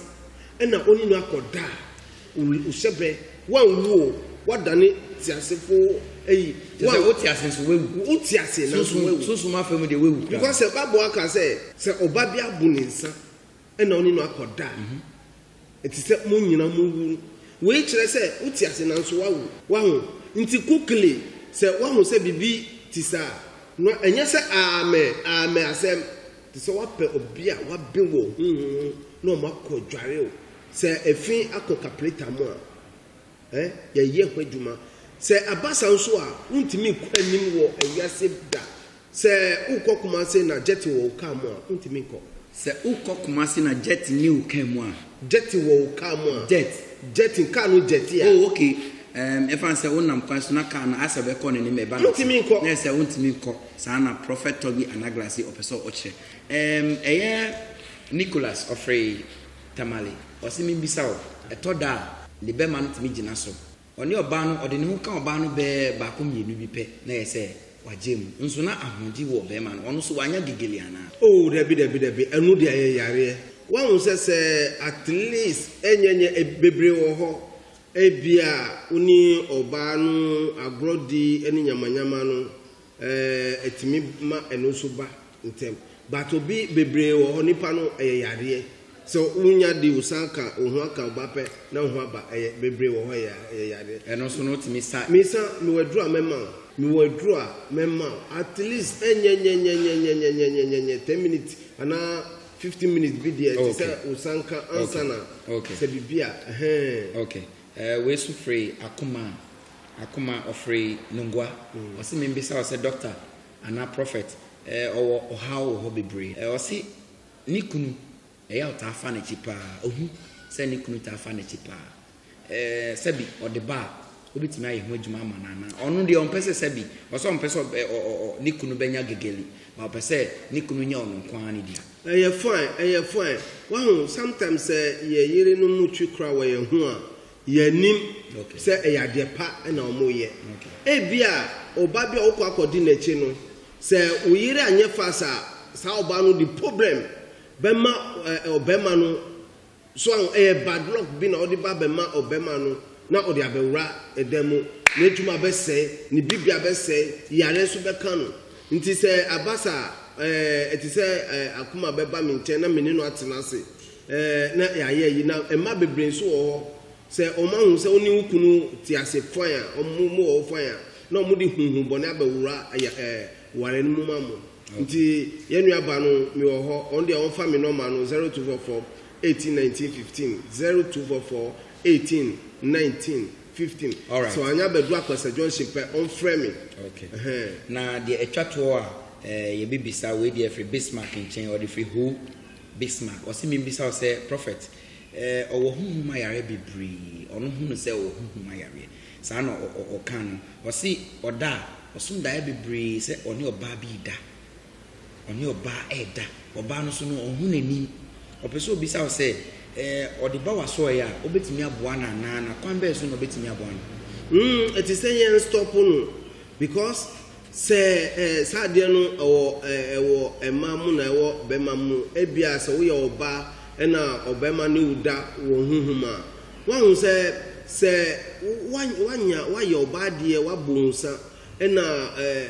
na ɔne no akɔda a, wo hyɛbɛ, woanwu o, woadane teasefo ayi. Kyerɛ sɛ wote ase nso woawu. Wote ase nanso woawu. Sunsum afa mu deɛ woawu koraa. Because Bible aka sɛ, sɛ obaa bi abu ne nsa ɛna ɔne no akɔ da a, ɛte sɛ mo nyina mo wu. Wei kyerɛ sɛ wo te ase nanso woawu. Waho? Nti quickly sɛ woaho sɛ biribi te saa no ɛnyɛ sɛ aamɛ aamɛ asɛm, te sɛ woapɛ obi a woabe wɔ honhom mu na ɔmo akɔ adware o. Sɛ ɛfi akɔ kapleta mo a, eh, yɛyɛ ho adwuma. Sɛ aba saa nso a, wontumi nkɔ anim wɔ ɛwiase da. Sɛ wokɔ Kumase na Jetty wɔ wo car mu a, wontumi nkɔ. Sɛ wokɔ Kumase na Jetty nni wo car mu a. Jetty wɔ wo car mu a. Jet. Jetty, car no jetty a. Oh, okay. Um, ɛfa no sɛ wonam kwan so na car no ayɛ sɛ ɛbɛkɔ n'anim ɛba no. Wontumi nkɔ. Na ɛyɛ sɛ wontumi nkɔ. Saa na Prɔfɛt Toby Anaglasi ɔpɛ sɛ ɔkyerɛ. Um, ɛyɛ Nicholas Ofrey Tamale. Ɔse mimmisa wo, ɛtɔ da a, ne bɛma no tumi gyina so? Ɔne ɔbaa no, ɔde ne ho ka ɔbaa no bɛɛ baako mmienu bi pɛ na ɛyɛ sɛ wagye mu. Nso na ahoɔden wɔ ɔbarima no, ɔno nso wanya gegele anaa? Oh, dabi, dabi, dabi, ɛno deɛ ɛyɛ yareɛ. Woahu sɛ, sɛ at least ɛnyɛ nyɛ, bebree wɔ hɔ, ebia wo ne ɔbaa no agorɔ di ne nyamanyama no, Eh ɛtumi ma ɛno nso ba ntɛm but obi bebree wɔ hɔ nipa no ɛyɛ yareɛ sɛ wonya di wosan ka oho aka oba pɛ na oho aba ɛyɛ bebree wɔ hɔ ɛyɛ ɛyɛ yareɛ. Ɛno nso no wotumi sa. Misa mewɔ aduro a mɛma wo. Mewɔ aduro a mɛma wo at least ɛnyɛnyɛnyɛnyɛnyɛnyɛnyɛnyɛnyɛ ten minutes anaa fifteen minutes bi deɛ ɛte sɛ wosan ka ansa na sɛ biribi a ɛhɛɛn. Okay eh wei nso firi akoma a Akoma ɔfree Nungua ɔse membisa wo sɛ doctor anaa prophet eh ɔwɔ ɔhaw wɔ hɔ bebree eh ɔse ne kunu ɛyɛ a ɔtaa fa n'akyi paa ohu sɛ ne kunu taa fa n'akyi paa eh sɛbi ɔde ba a obetumi ayɛ ho adwuma ama no anaa ɔno deɛ ɔmpɛ sɛ sɛbi ɔsɛ ɔmpɛ sɛ eh ɔ ɔ ne kunu bɛnya gegeli ba ɔpɛ sɛ ne kunu nyɛ ɔno nko ara ne dea. Ɛyɛ fine ɛyɛ fine wahu sometimes sɛ yɛ yerenom twi kora wɔ yɛn ho a Yɛnnim sɛ ɛyɛ adeɛ pa na wɔreyɛ. Ebia ɔba bi a wokɔ akɔdi n'akyi no, sɛ wo yere anyɛ fast a, saa ɔbaa no de problem bɛma ɔbarima no. So ahu? Ɛyɛ bad luck bi na ɔde ba bɛma ɔbarima no na ɔde abɛwura ɛda mu. N'adwuma abɛsɛe, ne biribiara abɛsɛe, yareɛ nso bɛka no. Nti sɛ aba saa a, ɛɛ ɛte sɛ akoma bɛba me nkyɛn na me ne no atena ase. Ɛɛ, na yɛayɛ ayi. Na mma bebree nso wɔ hɔ, sɛ wɔahu sɛ wo ne wo kunu te ase fann a, wɔn mu wɔ hɔ fann a, na wɔde honhommɔne abɛwura ɛyɛ ɛɛ ware no mu ma mo. Nti, yɛn nuabaa no, mewɔ hɔ. Wɔn deɛ, wɔmfa me nɔma no, zero two four four, eighteen, nineteen, fifteen, zero two four four, eighteen, nineteen, fifteen. Sɛ wɔanyɛ abɛduru Akwasa junction pɛ, wɔmfrɛ me. Okay. Ɛhɛn. Na deɛ ɛtwa toɔ a, ɛɛ yɛbɛbisa, wei deɛ ɛfiri Bismarck nkyɛn, ɔde firi Ho Bismark, ɔse menbisa wo sɛ Prophet eh, ɔwɔ honhom ayareɛ bebree, ɔno hunu sɛ ɔwɔ honhom ayareɛ? Saa na ɔka no, ɔse ɔda a, ɔsom daeɛ bebree sɛ ɔne ɔbaa bi reda, ɔne ɔbaa ɛɛda, ɔbaa no nso no ɔnhu n'anim. Ɔpɛ sɛ ɔbisa wo sɛ eh, ɔde ba w'asɔɔeɛ a, wobɛtumi aboa no anaa, na kwan bɛn so na wobɛtumi aboa no? Humm ɛte sɛ yɛn stop no because Sɛ eh, saa adeɛ no ɛwɔ eh, ɛwɔ mmaa mu na ɛwɔ barima mu. Ebia sɛ woyɛ ɔbaa ɛna ɔbarima ne wo da wɔ honhom a, woahu sɛ sɛ wa, wanya, wayɛ ɔbaa adeɛ, wabɔ nsa, ɛna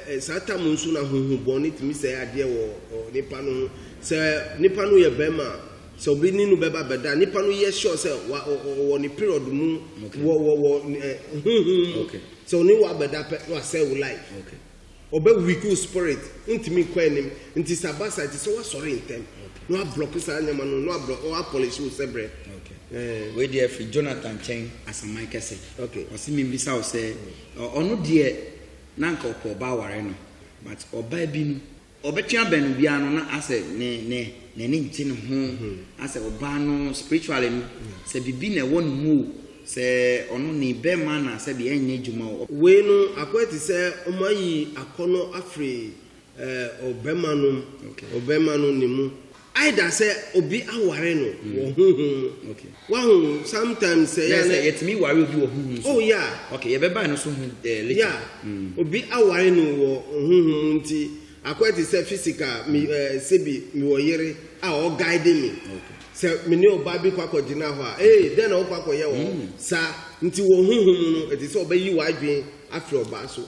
eh, saa tam nso na honhobɔne tumi sɛe adeɛ wɔ ɔ, nipa no ho. Sɛ nipa no yɛ barima a, sɛ obi ne no bɛba bɛda a, nipa no yɛ sure sɛ wa, ɔ, ɔ, ɔwɔ ne period mu Okay. wɔ, wɔ, wɔ eh, honhom mu. Okay. Sɛ ɔne wo abɛda pɛ na wasɛe wo life. Ɔbɛ weak wo spirit, wontumi nkɔ anim. Nti sɛ aba saa ɛsɛ sɛ woasɔre ntɛm na woablock saa nneɛma no na woapolish wo sɛbrɛ. Ɛɛ. Wei deɛ firi Jonathan nkyɛn asaman kɛse. Okay. Ɔse membisa wo sɛ ɔno deɛ na anka ɔpɛ ɔbaa aware no but ɔbaa bi no Ɔbɛtwe abɛn obiara no na asɛ ne ne n'ani ngye ne ho asɛ ɔbaa no spiritually no sɛ bibi na ɛwɔ ne mu o sɛ ɔno ne bɛɛma na sɛbi ɛnyɛ adwuma o. Wei no akɔyɛ te sɛ ɔmo ayi akɔnɔ afri ɔbɛma no ɔbɛma no ne mu. Either sɛ obi aware no mm. wɔ huhum mu. Okay. Wahu sometimes sɛ yɛ sɛ yɛtumi ware obi wɔ huhum so. Oh yeah. Okay, yɛbɛba no so hu eh, later. Yeah. Mm. Obi aware no wɔ huhum mu nti akɔyɛ te sɛ physical mi ɛɛ eh, sebi mi wɔ yere a ɔguide mi. Okay. Sɛ mi ne ɔbaa bi kɔ akɔgyina hɔ a ee dɛn na ɔkɔ akɔyɛ wɔ mm. saa nti wɔ huhum mu no ɛte sɛ ɔbɛyi w'adwene afiri ɔbaa so.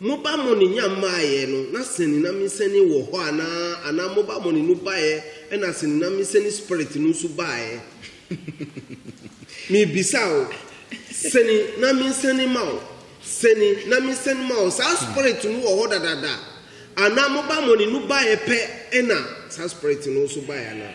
Mo ba mo ne nya mmaeɛ no, na sene na me sane wɔ hɔ anaa? Anaa mo ba mo ne no baeɛ, ɛna sene na me sane Spirit no nso baeɛ? Merebisa wo, sene na me sane ma wo, sene na me sane ma wo, saa Spirit no wɔ hɔ dadaada? Anaa mo ba mo ne no baeɛ pɛ, ɛna saa Spirit no nso baeɛ anaa?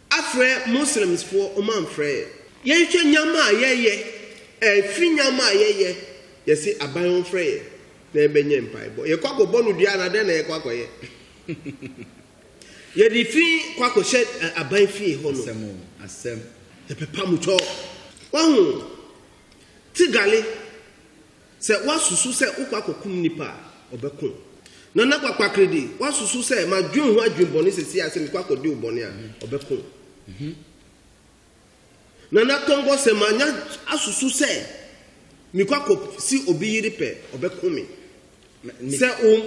Afrɛ Muslims foɔ ɔmo anfrɛ yɛn. Yɛnhwɛ nyama a yɛyɛ ɛfiri nyama a yɛyɛ yɛse aban ɔnfrɛ yɛn na yɛbɛnyɛ mpaebɔ yɛkɔ akɔbɔ no dua anaa dɛn na yɛkɔ akɔyɛ yɛde fi kɔ akɔhyɛ aban fie hɔ no Asɛm o asɛm. yɛpɛ pamutwɔ wahu tigale. Sɛ woasusu sɛ wokɔ akɔkum nnipa a, ɔbɛko wo. Na na kwakpakre de, woasusu sɛ madwen ho adwemmɔne seesei ara sɛ mekɔ akɔdi wo bɔne a, ɔbɛko wo. Na na tɔngbɔ sɛ manya asusu sɛ mekɔ akɔsi obi yere pɛ, ɔbɛko me. sɛ wo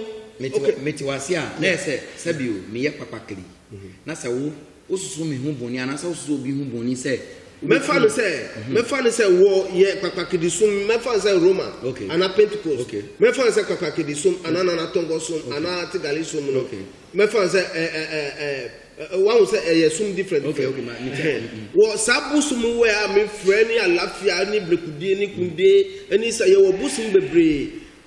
mete wase a na yɛ sɛ sɛbio meyɛ papakli mhm. na sɛ wo wosusu me ho bɔne anaasɛ wosusu obi ho bɔne sɛ mɛfa no sɛ mhm. mɛfa no sɛ wɔ yɛ papakidi som mɛfa no sɛ roma okay. anaa pentecost okay. mɛfa no sɛ papakidi som mhm. anaa nanatɔnkɔ som okay. anaa tigali som no okay. mɛfa no sɛ ɛɛ ɛɛ ɛɛ wahu sɛ ɛyɛ som different different okay, okay, mm-hmm. wɔ saa bosom wɛ a mefrɛ ne alafia ne brekudie ne kundie ne sɛ yɛwɔ bosom bebree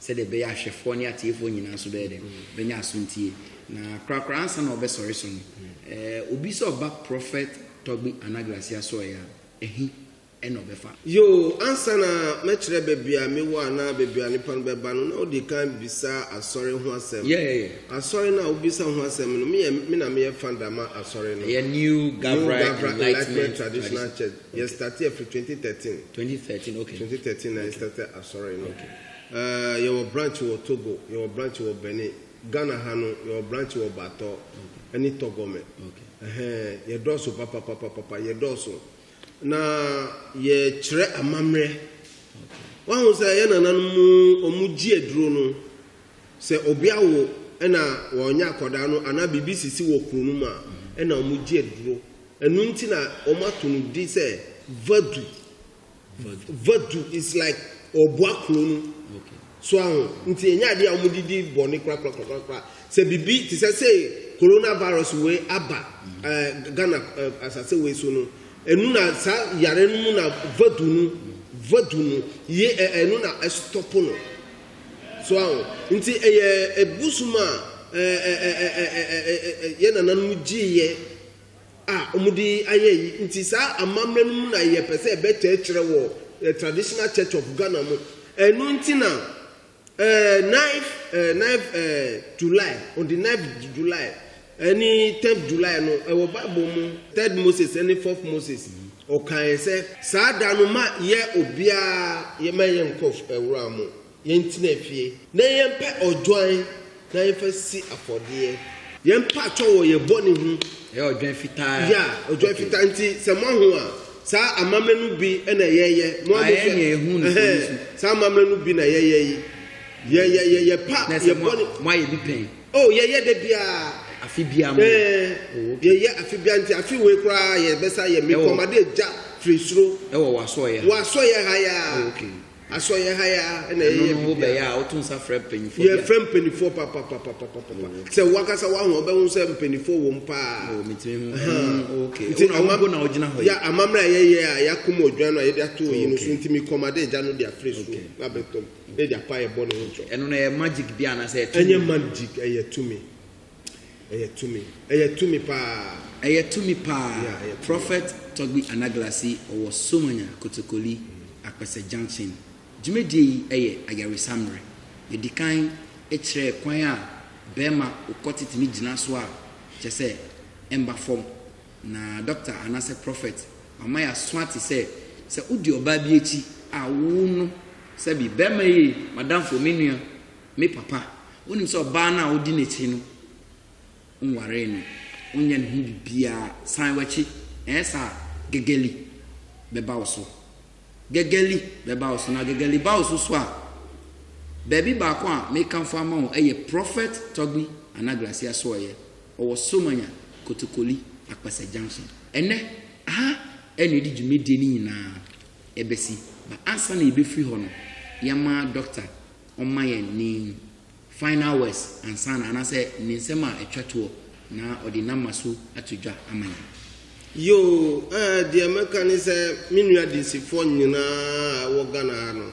sɛdeɛ ɛbɛyɛ a ahwɛfoɔ ne atiefoɔ nyinaa nso bɛyɛ dɛn? Bɛnya asontie. Na korakora ansa na ɔbɛsɔre so no, eh, obi sɛ ɔba Prɔfɛt Tɔgbi Anaglasi asoɛeɛ a, ɛhe na ɔbɛfa? Yoo, ansa na mɛkyerɛ baabi a mewɔ anaa baabi a nnipa no bɛba no, na wodi kan bisa Asɔre ho asɛm. Yeah, yeah, yeah. Asɔre no a wobisa ho asɛm no, meyɛ, me na meyɛ founder ma Asɔre no. Ɛyɛ New Gabra New Gabra Enlightenment Enlightenment Traditional Tradition. Church. Okay. Yɛstarteɛ firi 2013. 2013, okay. 2013 na Okay. yɛstarteɛ Asɔre no. Okay. Ɛɛ, yɛwɔ branch wɔ Togo, yɛwɔ branch wɔ Benin. Ghana ha no, yɛwɔ branch wɔ Batɔ ne Tɔgɔmɛ. Ɛhɛn, yɛdɔɔso papapapapa, yɛdɔɔso. Na yɛkyerɛ amammerɛ. Woahu sɛ yɛn nananom, wɔgye aduro no, sɛ obi awo na wɔnyɛ akwadaa no anaa biribi sisi wɔ kuro no mu a, ɛnna wɔgye aduro. Ɛno nti na wɔato no din sɛ Vadu. Vadu is like ɔboa kuro no. So aho nti ɛnyɛ adeɛ a wɔde di bɔne korakorakorakora. Sɛ biribi te sɛ sɛ coronavirus wei aba ɛɛ Ghana ɛɛ asase wei so no, ɛnu na saa yare no mu na vadu no vadu no ye ɛ ɛnu na ɛstɔpo no. So aho nti ɛyɛ ɛbosom a ɛɛ ɛɛ ɛɛ ɛɛ ɛɛ yɛ nananom gyeeɛ a wɔde ayɛ ayi nti saa amammerɛ no mu na yɛpɛ sɛ yɛbɛkyerɛkyerɛ wɔ eh, traditional church of ghana mu ɛno nti na eh, 9 eh, 9 eh, july on the 9 july ɛne 10 july no ɛwɔ bible mu third moses ɛne fourth moses ɔkaeɛ sɛ saa da no ma yɛ obiara yɛma yɛ nkɔ eh, wura mu Yɛntena fie na yɛmpɛ odwan na yɛmfa si afɔdeɛ. Yɛmpa atɔ wɔ yɛn bɔne ho. Ɛyɛ odwan fitaa. Ya, odwan fitaa. Okay. Nti sɛ moaho a, saa amammerɛ no bi na yɛyɛ. Mo a mohwɛ. Ayɛ ehu no fo nso. Saa amammerɛ no bi na yɛyɛ yi. Yɛ yɛ yɛ yɛpa yɛ bɔne. Mo ayɛ bi pɛn. Oh, yɛyɛ da biara. Afe biara mo. Ɛɛ, yɛyɛ afe biara nti afe wei koraa yɛbɛsa yɛ. Mekɔmade agya firi soro. Ɛwɔ w'asɔeɛ. W'asɔeɛ ha ya. Okay. Asɔ yɛ ha yi ara na yɛyɛ biribi. Ɛno no wobɛyɛ a woto nsa frɛ mpanimfoɔ bi a. Yɛfrɛ mpanimfoɔ papapapapapa. Sɛ wakasa wahu a wobɛhu sɛ mpanimfoɔ wɔ mu paa. Wɔ metumi hu. Ɛno okay. Nti ama mpo na wogyina hɔ yi. Ya amammerɛ a yɛyɛ a yɛakom odwan no a yɛde ato yi no so nti me kɔma de gya no de afiri so na abɛtɔm na yɛde apa yɛ bɔ ne ho kyɛw. Ɛno no ɛyɛ magic bi anaasɛ ɛyɛ tumi? Ɛnyɛ magic ɛyɛ tumi. Ɛyɛ tumi. Ɛyɛ tumi paa. Ɛyɛ tumi paa. Yeah, ɛyɛ tumi. Prophet Togbi Anaglasi, ɔwɔ Somanya, Kotokoli, Akpɛsɛ Junction. Dwumadie yi yɛ ayaresa mmerɛ. Yɛdi kan kyerɛɛ kwan a barima okɔte tumi gyina so a kyerɛ sɛ ɛmba fam. Na dɔkta anaasɛ prɔfɛt wama yɛaso ate sɛ, sɛ wodi ɔbaa bi akyi a, wo no, sɛbi, barima ei, m'adamfo, me nua, Me papa, wonim sɛ ɔbaa no a wodi n'akyi no, wonwaree no, wonyɛ ne ho biribiara, san w'akyi, ɛnyɛ saa a, Gegeli bɛba wo so. Gegeli bɛba wo so, na Gegeli ba wo so so a, baabi baako a mekamfo ama wo yɛ Prophet Togbi Anaglasi Asoɔyɛ, ɔwɔ Somanya, Kotokoli, Akpɛsɛ Junction. Ɛnnɛ, ha na yɛde dwumadie no nyinaa bɛsi, but ansa na yɛbɛfiri hɔ no, yɛma Dɔkta ɔmma yɛn ne final words ansa na anaasɛ ne nsɛm a ɛtwa toɔ na ɔde nama so ato dwa ama yɛn. Yoo eh deɛ mɛka ne sɛ me nua adansifoɔ nyinaa a ɛwɔ Ghana ha no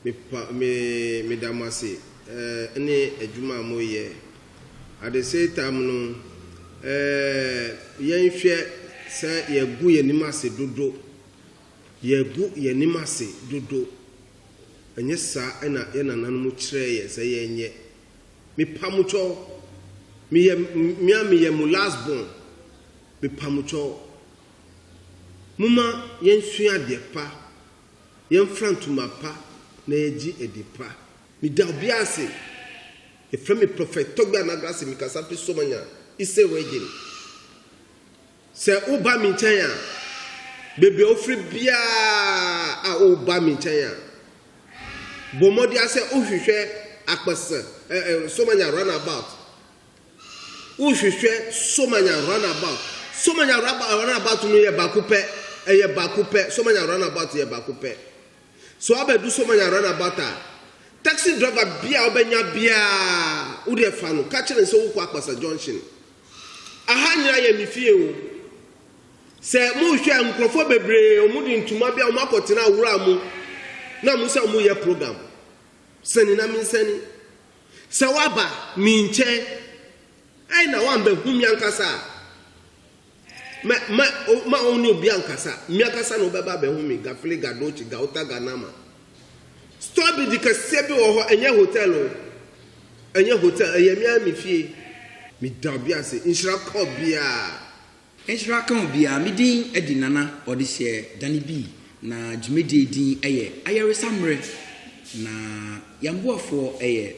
me pa me meda mo ase eh ne adwuma a mo yɛ at the same time no eh yɛn hwɛ sɛ yɛgu yɛn anim ase dodo yɛgu yɛn anim ase dodo Ɛnyɛ saa na yɛn nananom kyerɛɛ yɛn sɛ yɛnyɛ. Mepamokyɛw, meyɛ, me a meyɛ mo last born, mepamokyɛw, momma yɛnsua adeɛ pa, yɛmfra ntoma pa na yɛgye adi pa. Meda obiara ase. Yɛfrɛ me Prophet Togbe Anagrase, mekasa fi Somanya, Eastern Region. Sɛ woba me nkyɛn a, baabi a wofiri biara a woba me nkyɛn a, bɔ mmɔden sɛ wohwehwɛ akpɛsɛ ɛ ɛ Somanya runabout. Wohwehwɛ Somanya runabout. Somanya runabout no yɛ baako pɛ. Ɛyɛ baako pɛ. Somanya runabout yɛ baako pɛ. So abɛdu sɛ ɔmanya runabout a, taxi driver bia a ɔbɛnya biaa wodeɛ fa no, ka kyerɛ no sɛ wokɔ Akpasa junction. Aha nyina yɛ me fie o. Sɛ mohwɛ a nkurɔfoɔ bebree ɔmo de ntoma bia ɔmo akɔtena wura mu na ɔmo sɛ ɔmo yɛ program. Sɛne na mensɛne. Sɛ waba me nkyɛn, ɛna wambɛhu me ankasa a. Mɛ, mɛ, o, mma ɔne obiara nkasa. Me ankasa na wobɛba abɛhu me, Gafile Gadochi, Gauta Ganama. Store bi di kɛseɛ bi wɔ hɔ, ɛnyɛ hotel o. Ɛnyɛ hotel, ɛyɛ me ara me fie. Meda obi ase, nhyira ka obiara. Nhyira ka obiara. Me din de Nana Ɔdehyeɛ Danny B. Na dwumadie din yɛ Ayaresa Mmerɛ. Na yɛn boafoɔ yɛ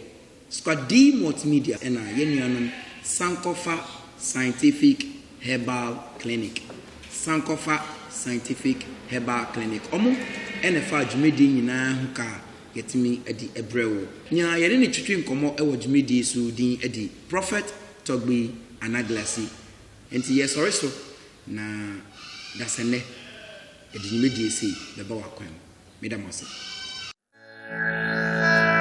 Squadee Multimedia na yɛn nuanom Sankɔfa Scientific Herbal Clinic, Sankɔfa Scientific Herbal Clinic, wɔn na ɛfaa dwumadie nyinaa ho ka a yɛatumi de abrɛ wo. Nea yɛne no twetwe nkɔmmɔ wɔ dwumadie yi so din de Prophet Togbi Anaglasi. Enti yɛresɔre so na dasɛnnɛ yɛde dwumadie sei bɛba w'akwan mu. Meda mo ase.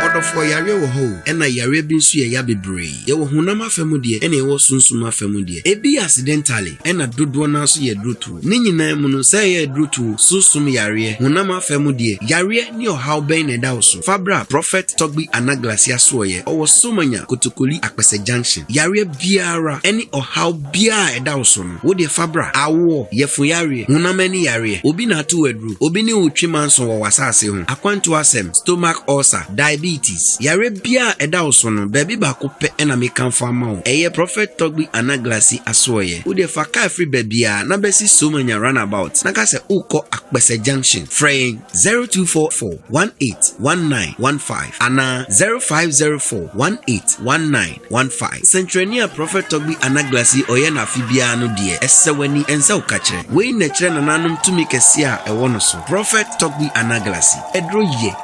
Ɔdɔfoɔ, yareɛ wɔ hɔ o, ɛna yareɛ bi nso yɛ ya bebree. Yɛwɔ honam afa mu deɛ, ɛna yɛwɔ sunsum afa mu deɛ. Ebi yɛ accidentally, ɛna dodoɔ no ara nso yɛ aduro tuo. Ne nyinaa mu no, sɛ ɛyɛ aduro tuo, sunsum yareɛ, honam afa mu deɛ, yareɛ ne ɔhaw bɛn na ɛda wo so? Fa bra Prophet Togbi Anaglas Yasoɔyɛ, ɔwɔ Somanya, Kotokoli, Akpɛsɛ Junction. Yareɛ biara ne ɔhaw biara a ɛda wo so no, Wo deɛ fa bra. Awoɔ, yafuyareɛ, honam ani yareɛ, obi na ato wo aduro, obi ne wo twi manso wɔ w'asaase ho, akwantuo asɛm, stomach ulcer, diabetes, yareɛ biara a ɛda wo so no, baabi baako pɛ na mekamfo ama wo, ɛyɛ Prɔfɛt Togbi Anaglasi asoɛeɛ. Wo deɛ fa kaa firi baabiara na bɛsi Somanya Runabout na ka sɛ wokɔ Akpɛsɛ Junction. Frɛ yɛn 0244 18 19 15 anaa 0504 18 19 One five. Sɛnkyerɛnne a Prɔfɛt Tɔgbi Anaglas yi ɔyɛ no afe biara no deɛ, ɛsɛ w'ani, ɛnsɛ wo ka kyerɛ. Wei na ɛkyerɛ nananom tumi kɛseɛ a ɛwɔ no so. Prɔfɛt Tɔgbi Anaglas yi, ɛduro yɛ.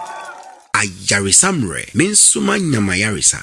Ayaresa mmerɛ, me nso manya m'ayaresa.